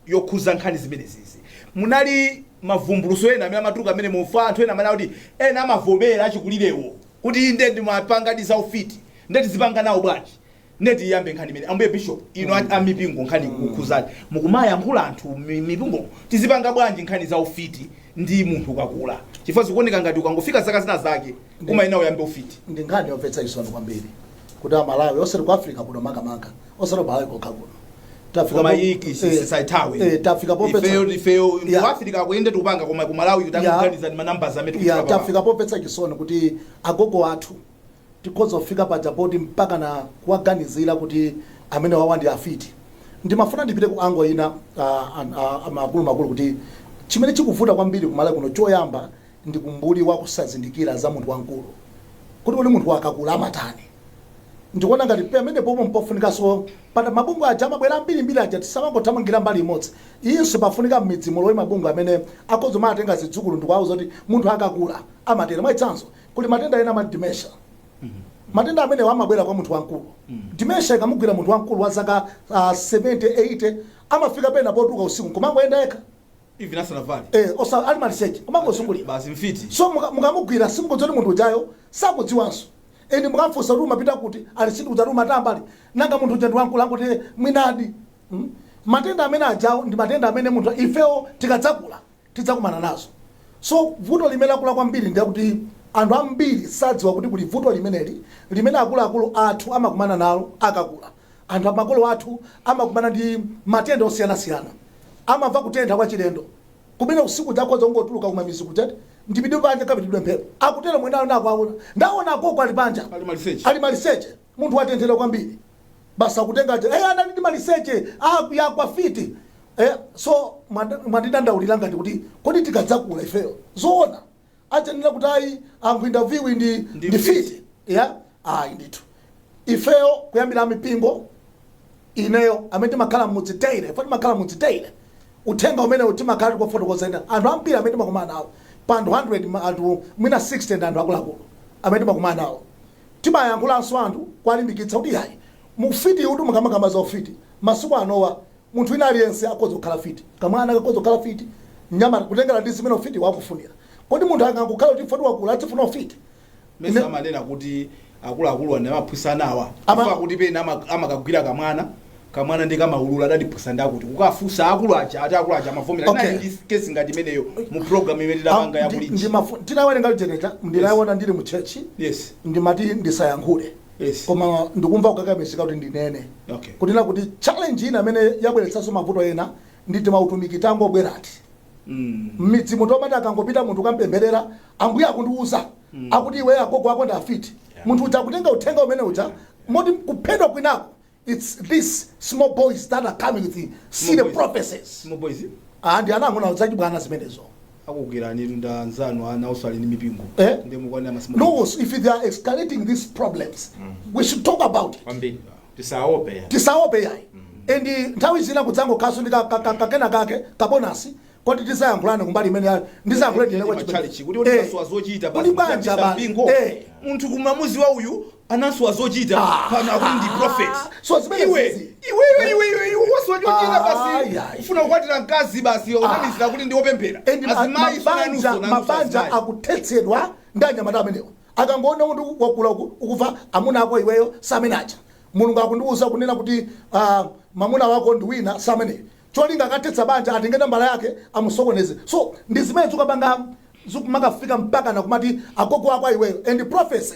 yokhuza nkhani zimenezizi munali mavumbulutso ena amene amatuluka amene mumva anthu ena amene akuti ena amavomera achikulirewo kuti inde ndimapangadi za ufiti nde tizipanga nawo bwanji nde tiyambe nkhani imene ambuye bishop inu a- a mipingo nkhani ikukhuzani mukumayankhula anthu mi- mipingo tizipanga bwanji nkhani za ufiti ndi munthu akakula chifukwa zikuoneka ngati ukangofika zaka zina zake umayenera uyambe ufiti ndi nkhani yomvetsa chisoni kwambiri kuti amalawi osati ku africa kuno makamaka osati malawi kokha kuno Tafika koma po- iyi eh, tisaithawe eh, tafika pomvetsa ifeyo ifeyo Yeah. kuafirika kuyende tikupanga koma kumalawi Yeah. tikuganiza ndi ma numbers amene ya tikuchita pa- tafika pomvetsa chisoni kuti agogo athu tikhoza kufika paja poti mpaka na kuwaganizira kuti amene wawa ndi afiti ndimafuna ndipite ku angle ina ah, an- ah, amaakulumakulu kuti chimene chikuvuta kwambiri kumalawi kuno choyamba ndi umbuli wa kusazindikira za munthu wamkulu kuti kodi munthu akakula amatani. Ndikuona ngati pemenepopo mpofunikanso pata mabungwe aja amabwera ambirimbiri aja tisamangothamangira mbali imodzi. Iyinso pafunika m'midzi mulowe mabungwe amene akhoza kumatenga zidzukulu ndikuwauza kuti munthu akakula amatere. Mwachitsanzo, kuli matenda ena amati dementia. Matenda amenewa amabwera kwa munthu wamkulu. Dementia ikamugwira munthu wamkulu wa zaka ah, 70, 80 amafika pena potuluka usiku nkumangoyenda yekha. even asanavale eh osa ali maliseche kumangozungulira basi mfiti so muka- mukamugwira simukudziwa kuti munthu ujayo sakudziwanso ende mukamfunsa kuti umapita kuti ali sindikudziwa ati umatamba ali nanga munthu uja ndiwankulu akuti mwinadi mm? matenda amene ajawo ndi matenda amene munthu ifewo tikadzakula tidzakumana nazo so vuto limene lakula kwambiri ndi lakuti anthu ambiri sadziwa kuti kuli vuto limeneli limene akuluakulu athu amakumana nalo akakula Anthu a makolo athu amakumana ndi matenda osiyanasiyana. Amamva kutentha kwachilendo kumene usiku uja akhoza kungotuluka kumamidzi kuja ati ndipite panja kapitidwe mphepo, akutero mwanayo nati akuwaona, ndaona agogo ali panja Ali maliseche. ali maliseche, munthu watenthedwa kwambiri. Basi akutenga aja, eh, anali ndi maliseche, ah, yagwa mfiti. Eh, so mwandi- mwandidandaulira ngati kuti kodi tikadzakula ifeyo zoona adzanena kuti ayi anku interview ndi Ndi ndi mfiti. mfiti ya ayi ndithu ifeyo kuyambira amipingo ineyo amene timakhala mmudzi daily ife timakhala mmudzi daily uthenga umenewu timakhala tikufotokozera anthu ambiri amene timakumana nawo pa anthu 100 ma- anthu mwina 60 ndi anthu akuluakulu amene timakumana nawo timayankhulanso anthu kuwalimbikitsa kuti yayi mufiti uti mukamakamba za ufiti masiku anowa Munthu wina aliyense akhoza kukhala fiti. Kamwana kakhoza kukhala fiti, mnyamata, kutengera ndi zimene ufitiwo akufunira. Kodi munthu angangokhala kuti chifukwa wakula adzifuna ufiti? Mesa Ine- amanena kuti akuluakulu ndi amaphunzitsa ana awa Ama- chifukwa kuti pena ama- amakagwira kamwana kamwana ndi kamaulula adandiphunzitsa ndakuti kukafunsa akulu aja ati akulu aja amavomera Okay. okay. ndi kesi ngati imeneyo mu program imene tidapanga ya Ndi- kulinji ndimafu- tinawerenga lijeneta ndinayiona ndili mu church yes ndimati ndisayankhule Yes. koma ndikumva kukakamizika kuti ndinene Okay. kunena kuti challenge ina imene yabweretsanso mavuto ena ndi timautumiki tangobwerati Mm. mmidzi munthu omati akangopita munthu kukampempherera ambuye akundiuza akuti iwe agogo ako ndi afiti munthu uja akutenga uthenga umene uja moti kuphedwa kwinako it's these small boys that are coming with silly prophecies small boys ah ndi ana ang'ono zachibwana zimenezo akugwirani ndi anzanu ana osali ndi mipingo Eh? ndi mukwana masimba no if they are escalating these problems we should talk about it kwambiri tisaope ya tisaope yayi and nthawi zina kudzangokhalanso ndi ka- ka- ka- kakena kake kabonasi koti tizayankhulane kumbali imene ya- ndizayankhulane ndi chalichi kuti Eh. udasowa zochita Kuti banja basi, basi. mpingo. Eh. munthu kumamudziwa uyu anasowa zochita pano akuti ndi prophet So zimene iwe zizi. iwe iwe iwe iwe iwe wasowa chochita Ah, basi yeah. ufuna kukwatira mkazi basi unamizira kuti ndi opemphera And ma- azimayi mabanja sunanuso mabanja akuthetsedwa ndi anyamata amenewo akangoona kuti wakula uku- ukufa amuna ako iweyo samene aja mulungu akundiwuza kunena kuti ah, mamuna wako ndi wina samene cholinga akathetsa banja atenge nambala yake amusokoneze so ndi zimene zikupanga zikumakafika mpaka nakumati agogo wako iweyo and prophecy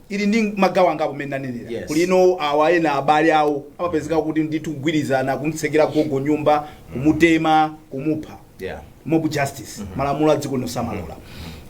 ili ndi magawo angapo mmene nanenera Yes. kuli ino awa ena abale awo amapezeka kuti ndithu kugwirizana kumtsekera gogo nyumba kumutema kumupha yeah mob justice malamulo a dziko lino samalola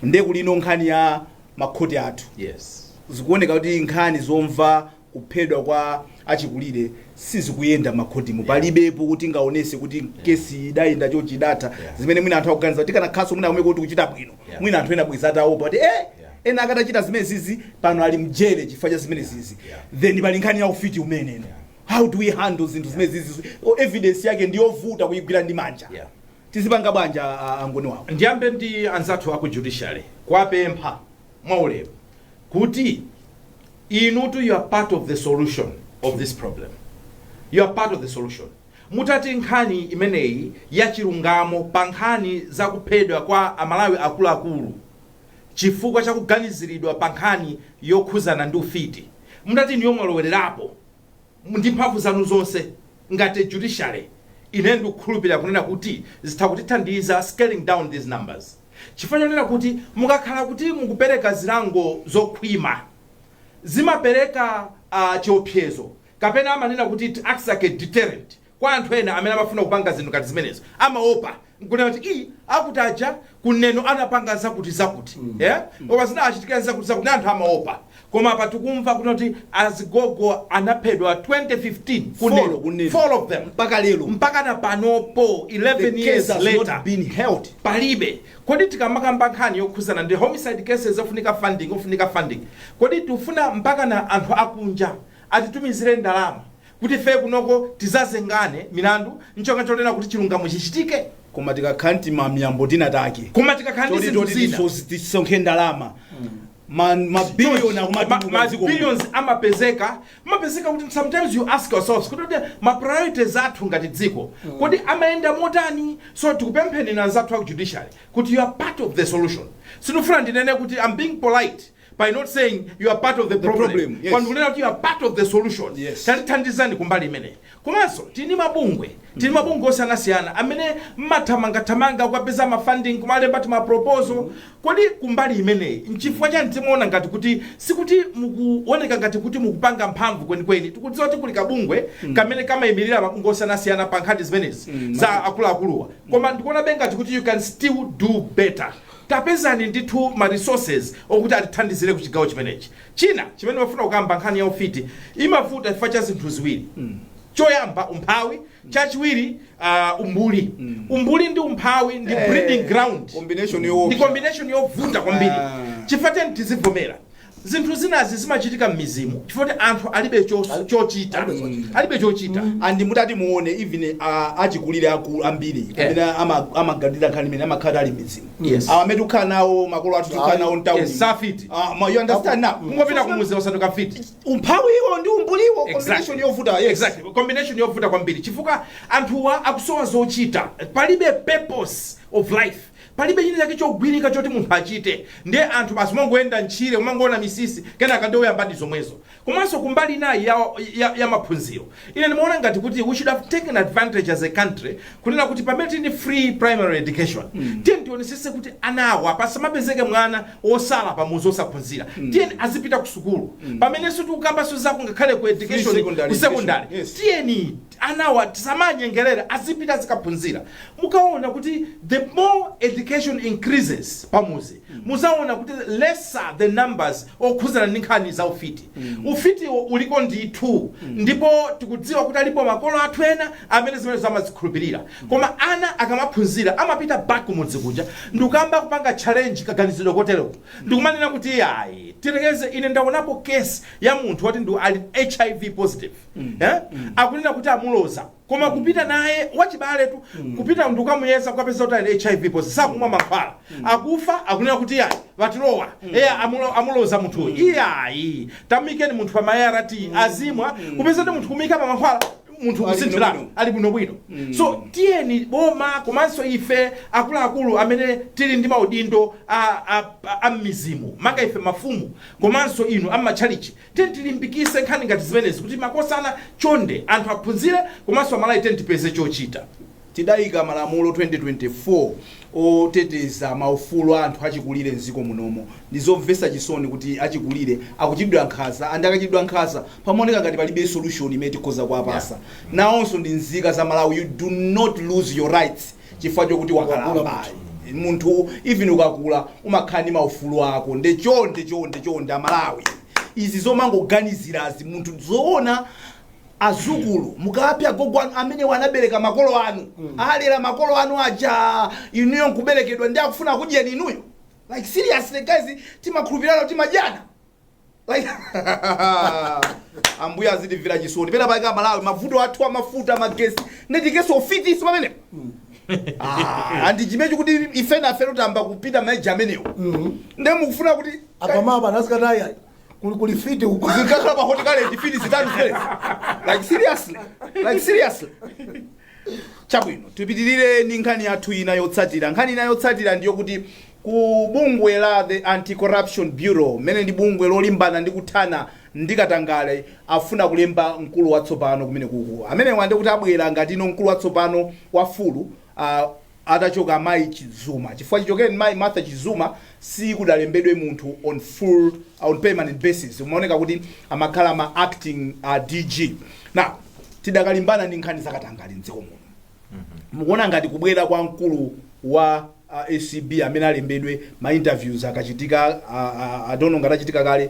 nde kuli ino nkhani ya makhoti athu yes zikuoneka kuti nkhani zomva kuphedwa kwa achikulire sizikuyenda makhotimo palibepo tingaonetse kuti kesi idayenda chonchi idatha Yeah. zimene mwina anthu akuganiza kuti kanakhalanso mwina kumeko kuti kuchita bwino Yeah. mwina anthu ena bwenzi ataopa kuti eh ena akatachita zimenezizi pano ali mjele chifukwa cha zimenezizi Yeah. then pali nkhani ya ufiti umenewo how do we handle zinthu zimenezizi O, evidence yake ndiyovuta kuyigwira ndi manja Yeah. tizipanga bwanja a- angoni wawo ndiyambe ndi anzathu aku judiciary kuwapempha mwaulemu kuti inutu you are part of the solution of this problem you are part of the solution Mutati nkhani imeneyi ya chilungamo pa nkhani za kuphedwa kwa a Malawi akuluakulu chifukwa cha kuganiziridwa pa nkhani yokhuzana ndi ufiti, mutati inuyo mwalowererapo ndi mphamvu zanu zonse ngati judiciary, ineyo ndikukhulupirira kunena kuti zitha kutithandiza scaling down these numbers chifukwa chonena kuti mukakhala kuti mukupereka zilango zokhwima zimapereka chiopsezo Kapena amanena kuti it acts like a deterrent kwa anthu ena amene amafuna kupanga zinthu ngati zimenezo. Amaopa n'kunena kuti, ii, akuti aja ku Neno anapanga zakutizakuti, eh, koma zinawachitikira n'zakutizakuti, ndiye anthu amaopa. Koma apa tikumva kunena kuti azigogo anaphedwa 2015 ku Neno. four of them. Mpaka lero. Mpaka na panopo, 11 years later the case has not been held. palibe kodi tikamakamba nkhani yokhuzana ndi homicide cases ofunika funding ofunika funding kodi tifuna mpaka na anthu akunja atitumizire ndalama kuti ifeyo kunoko tizazengane milandu ncholinga chonena kuti chilungamo chichitike koma tikakhala ndi ma miyambo tinatake koma tikakhala ndi Choti- zinthu choti zina tiso- tisonkhe ndalama Ma- mabilioni Ma- akumatukuka ma dziko muno. billions amapezeka amapezeka kuti sometimes you ask yourselves kuti kuti ma priorities athu ngati dziko kodi amayenda motani so tikupempheninso anzathu aku judiciary kuti you are part of the solution sindifuna ndinene kuti i'm being polite by not saying you are part of the problem, problem yes. koma kunena kuti you are part of the solution Yes. tandithandizani kumbali imeneyi komanso tili ndi mabungwe tili ndi mabungwe osiyanasiyana amene mumathamangathamanga kukapeza ma funding kumalemba timaproposal kodi kumbali imeneyi nchifukwa chani timaona ngati kuti sikuti mukuoneka ngati kuti mukupanga mphamvu kwenikweni tikudziwa kuti kuli kabungwe kamene kamayimirira mabungwe osiyanasiyana pa nkhani zimenezi za akuluakuluwa koma ndikuonabe ngati kuti you can still do better Tapezani ndithu ma resources okuti atithandizire ku chigawo chimenechi. China chimene ndimafuna kukamba nkhani ya ufiti imavuta chifukwa cha zinthu ziwiri. Choyamba umphawi, chachiwiri uh, umbuli. Umbuli ndi umphawi ndi Eh, breeding ground. combination yoopsa. Ndi combination yovuta kwambiri. Ah. Chifukwa tiyeni tizivomera. Zinthu zinazi zimachitika mmidzimu chifukwa choti anthu alibe chos chochita Alibe chochita. alibe chochita and mutati muone even a- achikulire akuluakulu ambiri Eh. amene ama- amaganira nkhani imene amakhala ali mmidzimu Yes. awa amene tikukhala nawo makolo athu tikukhala nawo mtauni Yes, safiti. Ah, ma- you understand now kungopita kumudzi wasanduka mfiti umphawiwo ndi umbuliwo combination Exactly. yovuta yes. exactly combination yovuta kwambiri chifukwa anthuwa akusowa zochita palibe purpose of life Palibe china chake chogwirika choti munthu achite nde anthu basi umangoyenda ntchire umangoona misisi kenaka nde uyambadi zomwezo. Komanso kumbali inayi ya ya ya maphunziro ine ndimaona ngati kuti we should have taken advantage as a country kunena kuti pamene tili ndi free primary education tiyeni tionetsetse kuti anawa pasamapezeke mwana otsala pamudzi osaphunzira tiyeni azipita kusukulu pamenenso tikukambanso zako ngakhale ku education secondary ku secondary education, yes. tiyeni anawa tisawanyengelele azipita azikaphunzira mukaona kuti the more education increases pamudzi mudzaona kuti lesser the numbers okhuzana ndi nkhani za ufiti ufitiwo uliko ndithu ndipo tikudziwa kuti alipo makolo athu ena amene zimenezo amazikhulupirira koma ana akamaphunzira amapita back kumudzi kuja ndikuyamba kupanga challenge kaganizidwe koteroko ndikumanena kuti ayi tirekeze ine ndaonapo case ya munthu woti ndi ali hiv positive eh? akunena kuti amuloza koma kupita naye wachibale uyu kupita kukamuyeza kukapeza kuti ali hiv positive sakumwa mankhwala akufa akunena kuti ayi vatilowa eya amulo- amuloza munthu iyayi tamuikeni munthu pa ma arv azimwa kupeza kuti munthu kumuika pa mankhwala munthu Ali kusinthirana bwinobwino. ali bwinobwino so tiyeni boma komanso ife akuluakulu amene tili ndi maudindo a- a- a- a m'midzi mu maka ife mafumu komanso inu amatchalitchi Tiyeni tilimbikitse nkhani ngati zimenezi kuti makosana chonde anthu aphunzire komanso amalawi tiyeni tipeze chochita. Tidaika malamulo 2024 oteteza maufulu a anthu achikulire m'dziko munomo. Ndizomvetsa chisoni kuti achikulire akuchitidwa nkhanza and akachitidwa nkhanza pamaoneka ngati palibe solution imene tikhoza kuwapatsa. Nawonso ndi nzika za Malawi you do not lose your rights. chifukwa chokuti wakalamba munthu even ukakula umakhala ndi maufulu ako nde chonde chonde chonde amalawi izi zomangoganizirazi munthu zoona azukulu mukapha gogo anu amene anabereka makolo anu alera makolo anu aja inuyo nkuberekedwa ndi akufuna kudyeni inuyo like seriously guys timakhulupirana timadyana Like, ambuye adzatimvera chisoni pena paika malawi mavuto athu amafuta magesi nde tiikenso ufiti pamene Ah, and chimenechi kuti ife nafe tayamba kupita ma age amenewo nde mukufuna kuti apamapa ana azikatitaya kuli kuli fiti uko zikakhala pa hotikaleti fiti zitatu zimene like seriously like seriously chabwino tipitirire ndi nkhani yathu ina yotsatira nkhani ina yotsatira ndiyokuti ku bungwe la the anti-corruption bureau limene ndi bungwe lolimbana ndi kuthana ndi katangale afuna kulemba mkulu watsopano kumenekuku amenewa ndikuti abwera ngati no mkulu watsopano wa full uh, atachoka mayi chizuma chifukwa chichokeni mayi martha chizuma sikudalembedwe munthu on full on permanent basis umaoneka kuti amakhala ma acting uh, dg now tidakali kulimbana ndi nkhani zakatangale mdziko muno mukuona ngati kubwera kwa mkulu wa uh, acb amene alembedwe ma interviews akachitika uh, uh, i don't know ngati achitika kale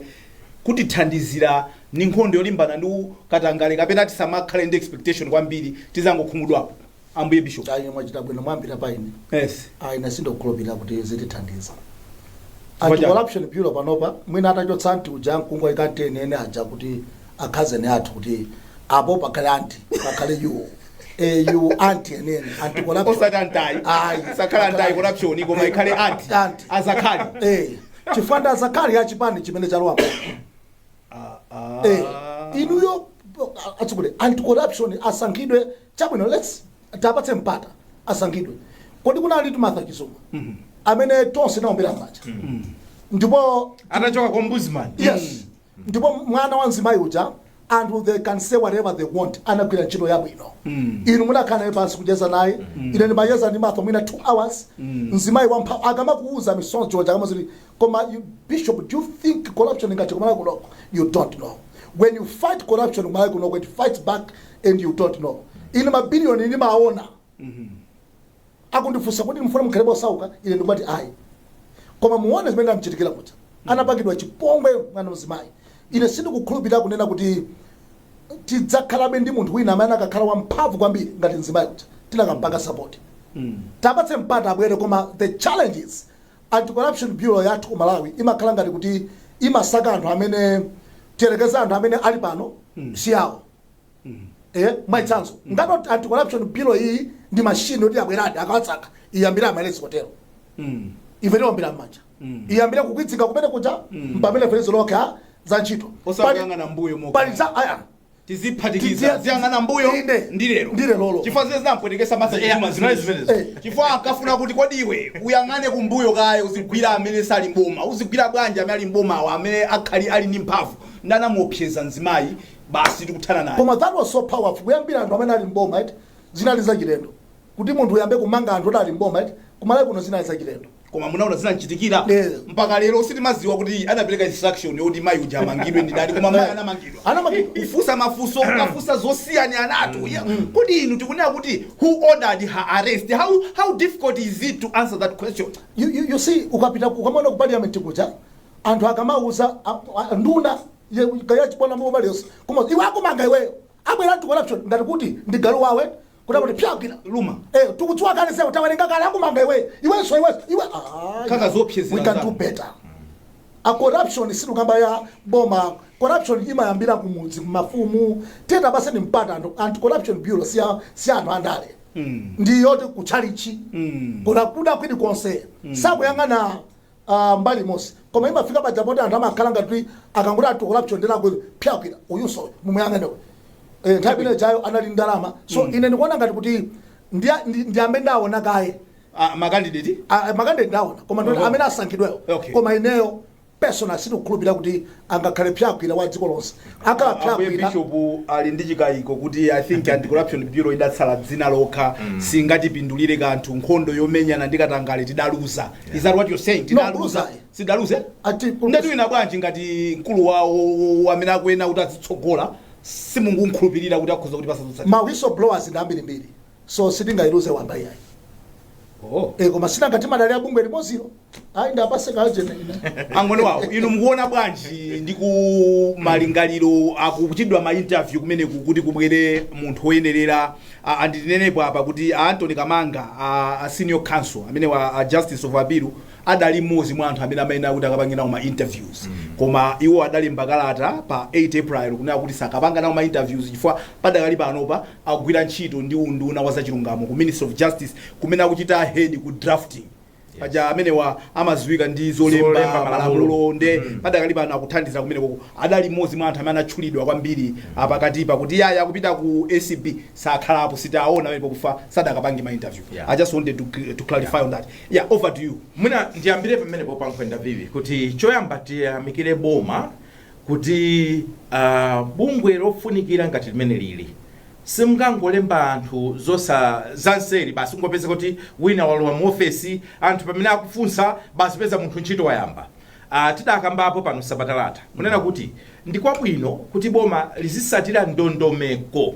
kutithandizira mu nkhondo yolimbana ndi katangale kapena tisamakhale ndi expectation kwambiri tizangokhumudwapo ambuye bishop ayi mwachita bwino mwayambira pa ine yes ayi ine sindikukhulupirira kuti zitithandiza Chifukwa anti chani? corruption bureau panopa mwina atachotsa anti uja akungwa ikanteni ene aja kuti akhazeni athu kuti apo pakhale anti pakhale yuwo eyu anti enene anti corruption osati anti Ayi. isakhale anti corruption koma ikhale anti Aunt. azakhali Eh, chifukwa ndi azakhali achipani chimene chalowapo Eh, inuyo atsukule anti corruption asankhidwe Chabwino let's tiwapatse mpata asankhidwe. Kodi kunalitu Martha Chizuma amene tonse tinaombera m'manja ndipo Atachoka kwa Ombudsman. yes ndipo mwana wa mzimayi uja anthu they can say whatever they want anagwira ntchito yabwino inu munakhala naye pansi kucheza naye ine ndimacheza ndi Martha mwina two hours mzimayi wamphamvu akamakuuza misonzi ikamachoka Koma bishop do you think corruption ingathe kumalawi kunoko you don't know when you fight corruption kumalawi kunoko it fights back and you don't know ine mabiliyoni ndimaona akundifunsa kuti mukufuna mukhalebe osauka ine ndikumati ayi koma muone zimene zinamchitikira kuti anapangidwa chipongwe mwana wa mzimayi ine sindikukhulupirira kunena kuti tidzakhalabe ndi munthu wina amene akakhale wamphamvu kwambiri ngati mzimayi kuti tinakampanga sapoti tiwapatse mpata abwere koma the challenge is Anti-Corruption Bureau yathu ku Malawi imakhala ngati kuti imasaka anthu amene, tiyerekeze anthu amene ali pano si awo. Eya, mwachitsanzo, ngati ot- Anti-Corruption Bureau iyi ndi machine yoti yabweradi ikawasaka, iyambire amaarrest kotero. Ife tiwombera m'manja. Iyambire kukwidzinga kumene kuja, mpamene akufera zantchito. Osakuyang'ana Pali- mbuyo mokha. Pali za, aya, tiziphatikiza Tidziya- tiziyang'ana mbuyo Inde. ndi lero Ndi lerolo. chifukwa zimene zinampwetekesa Martha Yeah, Chizuma zinali zimenezo. zimenezo Eh. chifukwa ankafuna kuti kodi iwe uyang'ane kumbuyo kaye uzigwira amene sali mboma uzigwira bwanji amene ali mbomawo amene akadali ali ndi mphamvu nde anamuopseza mzimayi basi tikuthana naye koma that was so powerful kuyambira anthu amene ali mboma eti zinali zachilendo kuti munthu uyambe kumanga anthu oti ali mboma eti kumalawi kuno zinali zachilendo koma munaona zinamchitikira Eh. mpaka lero sitimadziwa kuti anapereka instruction yoti mayi uja amangidwe ndi ndani koma mayi anamangidwa Anamangidwa. kufunsa mafunso kufunsa zosiyana anatu Ya, kodi inu tikunena kuti who ordered her arrest how, how difficult is it to answer that question you, you, you see ukapita ukamona ku parliament kuja anthu akamauza a- a- nduna ye- kaya chipani mo warriors koma iwe akumanga iweyo abwera anti corruption ngati kuti ndi galu wawe Woti kuti pya gwira luma. Eh, tukutswa kale sasa utawerenga kale akumanga iwe. Iwe so iwe. Iwe ah. Kukhala zobwezera We can do zako. better. A corruption sitikukamba ya boma. Corruption imayambira kumudzi kumafumu. Tiwapatse mpata anti- anti corruption bureau si ya- si anthu andale. Mm. Ndi yoti kuchalichi. Mm. Kuona kwina kulikonse. Osayang'ana Aaa mbali imodzi koma imafika paja poti anthu amakhala ngati kuti akangoti anti corruption ndi galu woti phyaa gwira uyunso uyo mumuyang'ane uyu ee nthawi imene ijayo anali ndi ndalama so ine ndikuona ngati kuti ndi a- ndi- ndi amene ndaona kaye Ah, makandideti Ah, makandideti ndaona koma ndoti Oho. amene asankhidweyo Okay. koma ineyo personal sindikukhulupirira kuti angakhale psyagwira wa dziko lonse akhala Ambuye Psyagwira Bishop ali ndi chikayiko kuti I think anti-corruption bureau idatsala dzina lokha singatipindulire kanthu nkhondo yomenyana ndi katangale tidaluza. Is that what you're saying? Tidaluza. kuluza. Sidaluze? Ati kuluza. Nde tiwina bwanji ngati mkulu wawo amene akuyenera kuti azitsogola simungunkhulupirira kuti akhoza kutipatsa zotsatira. ma whistleblowers ndi ambirimbiri so sitingailuze wamba iyayi Oh. e, koma si nanga timadalira bungwe limozilo ayi ndapatse kaajene ine a Ngoni wawo inu mukuona bwanji ndi ku malingaliro akuchitidwa ma interview kumene ku- kuti kubwere munthu woyenerera a- andinenepo apa kuti a Anthony kamanga a, a senior counsel amenewa a justice of appeal adali mmodzi mwa anthu amene amayenera kuti akapange nawo ma interviews koma iwo adalemba kalata pa 8 april kunena kuti sakapanga nawo ma interviews chifukwa padakali panopa akugwira ntchito ndi unduna wa zachilungamo ku Ministry of Justice kumene akuchita head ku drafting paja amenewa amaziwika ndi zolemba Zolemba malamulo. malamulo nde padakali pano akuthandiza kumeneko adali mmodzi mwa anthu amene anatchulidwa kwambiri apakatipa kuti yaya akupita ku acb sakhalapo sitaona amene pakuti sadakapange ma interview Yeah. i just wanted to, cl- to clarify on that yeah over to you mwina ndiyambire pamenepo pa Nkhwenda vivi kuti choyamba tiyamikire boma kuti a bungwe lofunikira ngati limenelili simungangolemba anthu zotsa- zanseri basi kungopeza kuti wina walowa mu ofesi anthu pamene akufunsa basi peza munthu ntchito wayamba uh, tidakambapo pano sabata latha kunena kuti ndi kwabwino kuti boma lizisatira ndondomeko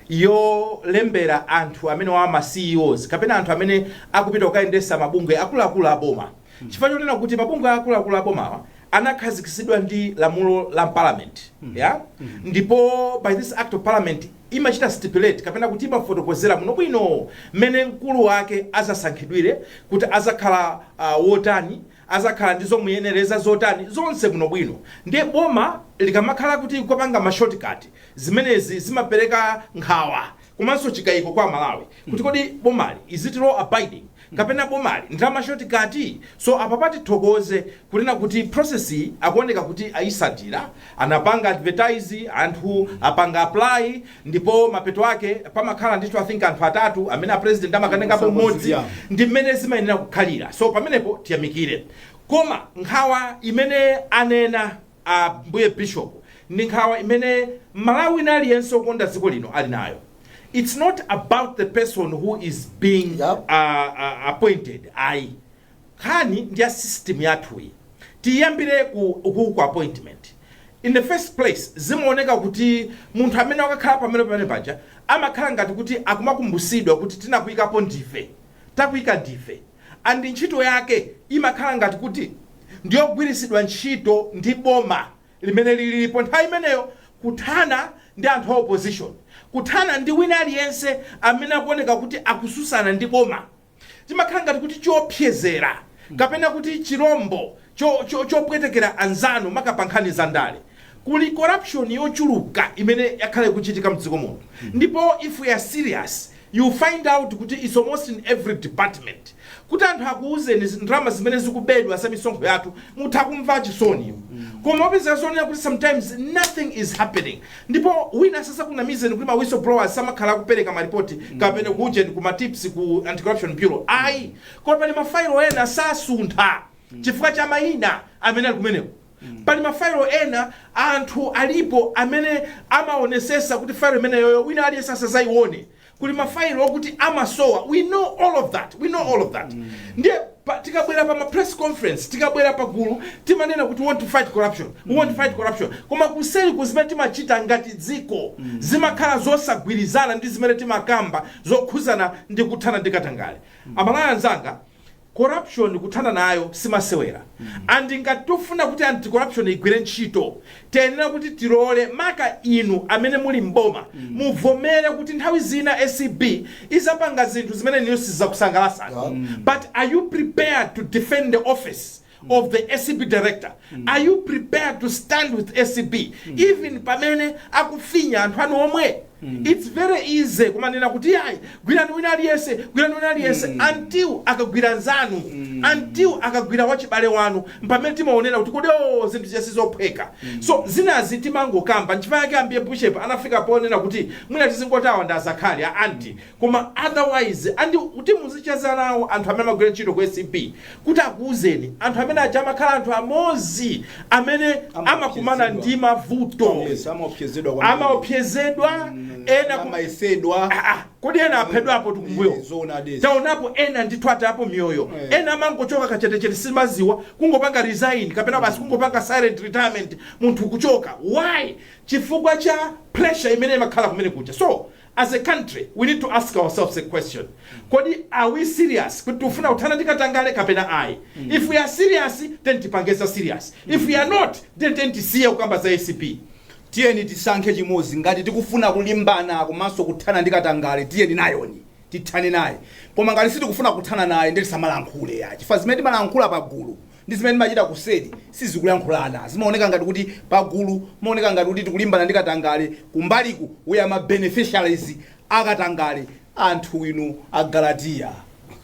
yolembera anthu amenewa ma CEOs kapena anthu amene akupita kukayendesa mabungwe akuluakulu a boma chifukwa chonena kuti mabungwe akuluakulu abomawa anakhazikitsidwa ndi lamulo la parliament ya ndipo by this act of parliament imachita stipulate kapena kuti imafotokozera bwinobwino mmene mkulu wake azasankhidwire kuti azakhala uh, wotani azakhala ndi zomuyenereza zotani zonse bwinobwino ndiye boma likamakhala kuti likupanga ma shortcut zimenezi zimapereka nkhawa komanso chikayiko kwa aMalawi kuti kodi bomali is it law abiding kapena bomali ndi la ma shortcut so apapa tithokoze kunena kuti process iyi akuoneka kuti ayisatira anapanga advertise anthu apanga apply ndipo mapeto ake pamakhala ndithu i think anthu atatu amene a president amakatengapo mmodzi ndi mmene zimayenera kukhalira so pamenepo tiyamikire koma nkhawa imene anena Ambuye Bishop, ndi nkhawa imene m'Malawi wina aliyense wokonda dziko lino ali nayo. It's not about the person who is being Yep. a, a, appointed ayi. Nkhani ndi ya system yathuyi. Tiyambire ku, ku, ku appointment. In the first place, zimaoneka kuti munthu amene wakakhala pamene pamene paja amakhala ngati kuti akumakumbusidwa kuti tinakuikapo ndife. Takuika ndife. And ntchito yake imakhala ngati kuti ndiyogwiritsidwa ntchito ndi boma limene lilipo nthawi imeneyo kuthana ndi anthu a opposition, kuthana ndi wina aliyense amene akuoneka kuti akususana ndi boma. Chimakhala ngati kuti choopsezera kapena kuti chirombo chopwetekera anzanu maka pa nkhani za ndale. Kuli corruption yochuluka imene yakhala ikuchitika mdziko muno ndipo if we are serious you find out kuti its almost in every department. Kuti anthu akuuzeni ndalama zimene zikubedwa za misonkho yathu mutha kumva chisoni. Koma mupeza zonena kuti sometimes nothing is happening ndipo wina asazakunamizeni kuti ma whistleblowers samakhala akupeleka ma ripoti kapena ku ujeni ku ma tips ku anti corruption bureau ayi. Koma pali mafailo ena sasuntha chifukwa cha maina amene ali kumeneko. Pali ma failo ena anthu alipo amene amaonesesa kuti failo imeneyoyo wina aliyense asazaione. Kuli ma failo okuti amasowa we know all of that we know all of that ndiye pa, tikabwera pa ma press conference tikabwera pa gulu timanena kuti we want to fight corruption we want to fight corruption koma kuseriku zimene timachita ngati dziko zimakhala zosagwirizana ndi zimene timakamba zokhuzana ndi kuthana ndi katangale. Amalawi anzanga Corruption kuthana nayo simasewera and ngati tikufuna kuti anti corruption igwire ntchito tiyenera kuti tilole maka inu amene muli m'boma muvomere kuti nthawi zina acb izapanga zinthu zimene inuyo sizizakusangalasani but are you prepared to defend the office of the acb director are you prepared to stand with acb even pamene akufinya anthu anu omwe its very easy kumanena kuti yayi gwirani wina aliyense gwirani wina aliyense until akagwira nzanu until akagwira wachibale wanu mpamene timaonera kuti kodi o zinthuzi sizophweka so zinazi timangokamba nchifukwa yake ambiye bishop anafika ponena kuti mwina tizingoti awa ndi azakhali a anti koma otherwise and kuti muzicheza nawo anthu amene amagwira ntchito ku acb kuti akuuzeni anthu amene aja amakhala anthu amodzi amene amakumana ndi mavuto amaopsezedwa ena ku- amayesedwa kodi ena aphedwapo tikumbuyo taonapo ena ndithu atayapo miyoyo ena amangochoka kachetechete simadziwa kungopanga resign kapena basi kungopanga silent retirement munthu kuchoka why chifukwa cha pressure imene imakhala kumenekuja so As a country we need to ask ourselves a question, kodi are we serious kuti tikufuna kuthana ndi katangale kapena ayi? If we are serious tiyeni tipange za serious, if we are not then tiyeni tisiye kukamba za acb. tiyeni tisankhe chimodzi ngati tikufuna kulimbana komanso kuthana ndi katangale tiyeni nayoni tithane naye koma ngati sitikufuna kuthana naye ndiye tisamalankhule ya chifukwa zimene timalankhula pa gulu ndi zimene timachita kuseri sizikulankhulana. Zimaoneka ngati kuti pagulu pamaoneka ngati kuti tikulimbana ndi katangale, kumbaliku we are ma beneficiaries a katangale. Anthu inu agalatiya,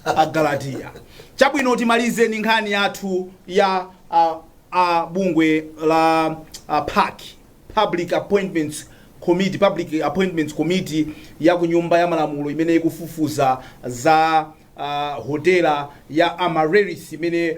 agalatiya. Chabwino, timalize ndi nkhani yathu ya a, a bungwe la a, PAC, Public Appointments Committee, Public Appointments Committee ya ku nyumba ya malamulo imene ikufufuza za Hotela ya Amaryllis imene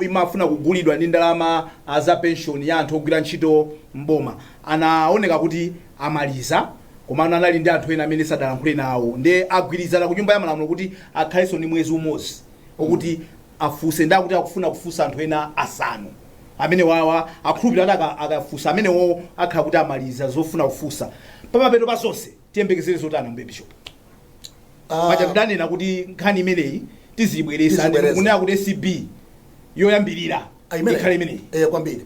imafuna kugulidwa ndi ndalama za penshoni ya anthu ogwira ntchito m'boma anaoneka kuti amaliza komano anali ndi anthu ena amene sadalankhule nawo nde agwirizana ku nyumba ya malamulo kuti akhalenso ndi mwezi umodzi okuti afunse nde akuti akufuna kufunsa anthu ena asanu amenewawa akhulupirira kuti akafunsa amenewowo akhala kuti amaliza zofuna kufunsa pamapeto pa zonse tiyembekezere zotani Ambuye Bishop? Ah, paja tidanena kuti nkhani imeneyi tizibwereza Tizibwereza. kunena kuti acb yoyambirira ah, imeneyi. ikhale imeneyi Eh, kwambiri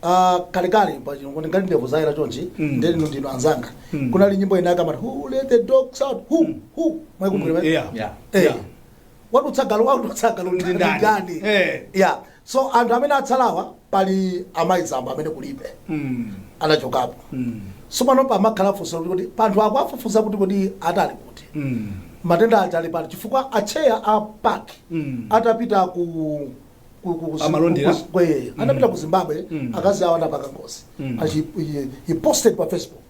Ah, kalekale paja kuti ngati ndevu zayera chonchi Mm. ndiye inu ndinu anzanga Mm. kunali nyimbo ina akamati who let the dogs out who who mwaikumbukira Yeah. Yeah. eh Yeah. wadutsa galu wadutsa galu Ndi ndani? ndani Eh. yeah So anthu amene atsalawa pali a Mai Zamba amene kulibe anachokapo. So pano pamakhala funso loti kodi panthu akuwafufuza kuti kodi ali kuti. Matenda aja ali pati chifukwa a chair a PAC atapita ku- ku- ku- ku- Amalondera? ku- ku- eh, anapita ku Zimbabwe akazi awo anapanga ngozi. Achi- he- He posted pa Facebook.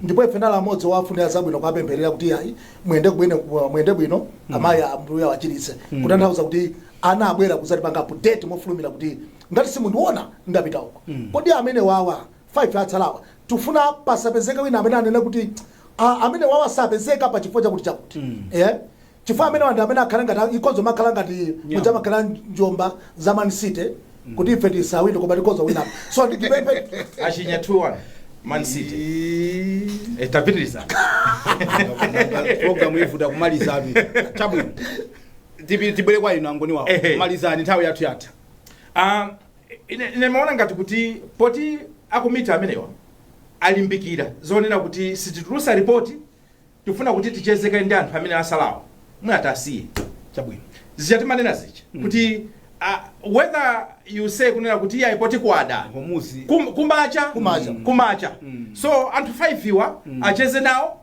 ndipo ife tinali amodzi owafunira zabwino kuwapempherera kuti ayi muyende kubwino muyende bwino amayi ambuye awachiritse kutanthauza kuti anabwera kuzatipanga update mofulumira kuti ngati simundiona ndapita uko kodi amenewawa 5 atsalawa tifuna pasapezeke wina amene anene kuti "Ah, amenewawa sapezeka pa chifukwa chakuti chakuti eh chifukwa amenewa ndi amene akhale ngati ikhoza kumakhala ngati muja makhala njomba za man city kuti ife tisawine koma tikhoza kuwina so ndikupepesa achinya 2-1 man city Eh, tapitiriza program ivuta kumaliza atu chabwino Tipi- tibwere kwa inu angoni wawa Ehe. kumalizani nthawi yathu yatha Ah, ine ndimaona ngati kuti poti akomiti amenewa alimbikira zonena kuti sititulusa ripoti tifuna kuti ticheze kaye ndi anthu amene atsalawo mwina tiwasiye chabwino zija timanena zija kuti ah, whether you say kunena kuti iyayi poti kwada Homuzi. kum- kumacha Kumacha. kumacha so anthu 5 awa acheze nawo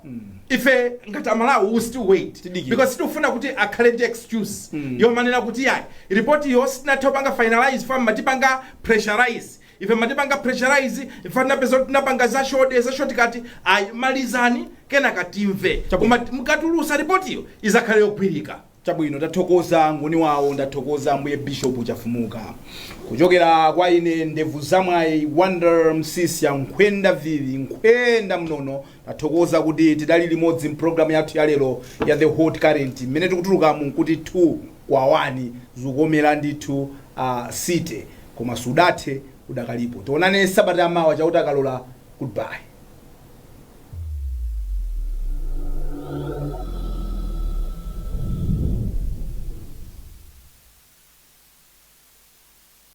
ife ngati amalawi we still wait Tidikira. because sitifuna kuti akhale ndi excuse yomanena kuti yayi ripotiyo sitinatha kupanga finalize chifukwa mumatipanga pressurize Ife mumatipanga pressurize ife tinapezeka kuti tinapanga za shode za shortcut ayi malizani kenaka timve Chabwino. koma mukatulutsa ripotiyo idzakhale yogwirika chabwino tathokoza ngoni wawo ndathokoza ambuye bishop chafumuka kuchokera kwa ine ndevu zamwayi Wonder Msiska nkhwenda vili nkhwenda mnono Tathokoza kuti tidali limodzi m'programu yathu ya lero ya The Hot Current. Mmene tikutuluka muno nkuti 2 kwa 1 zikukomera ndithu a City. Koma sudathe, udakalipo. Tionane sabata ya mawa, Chauta akalola. Goodbye.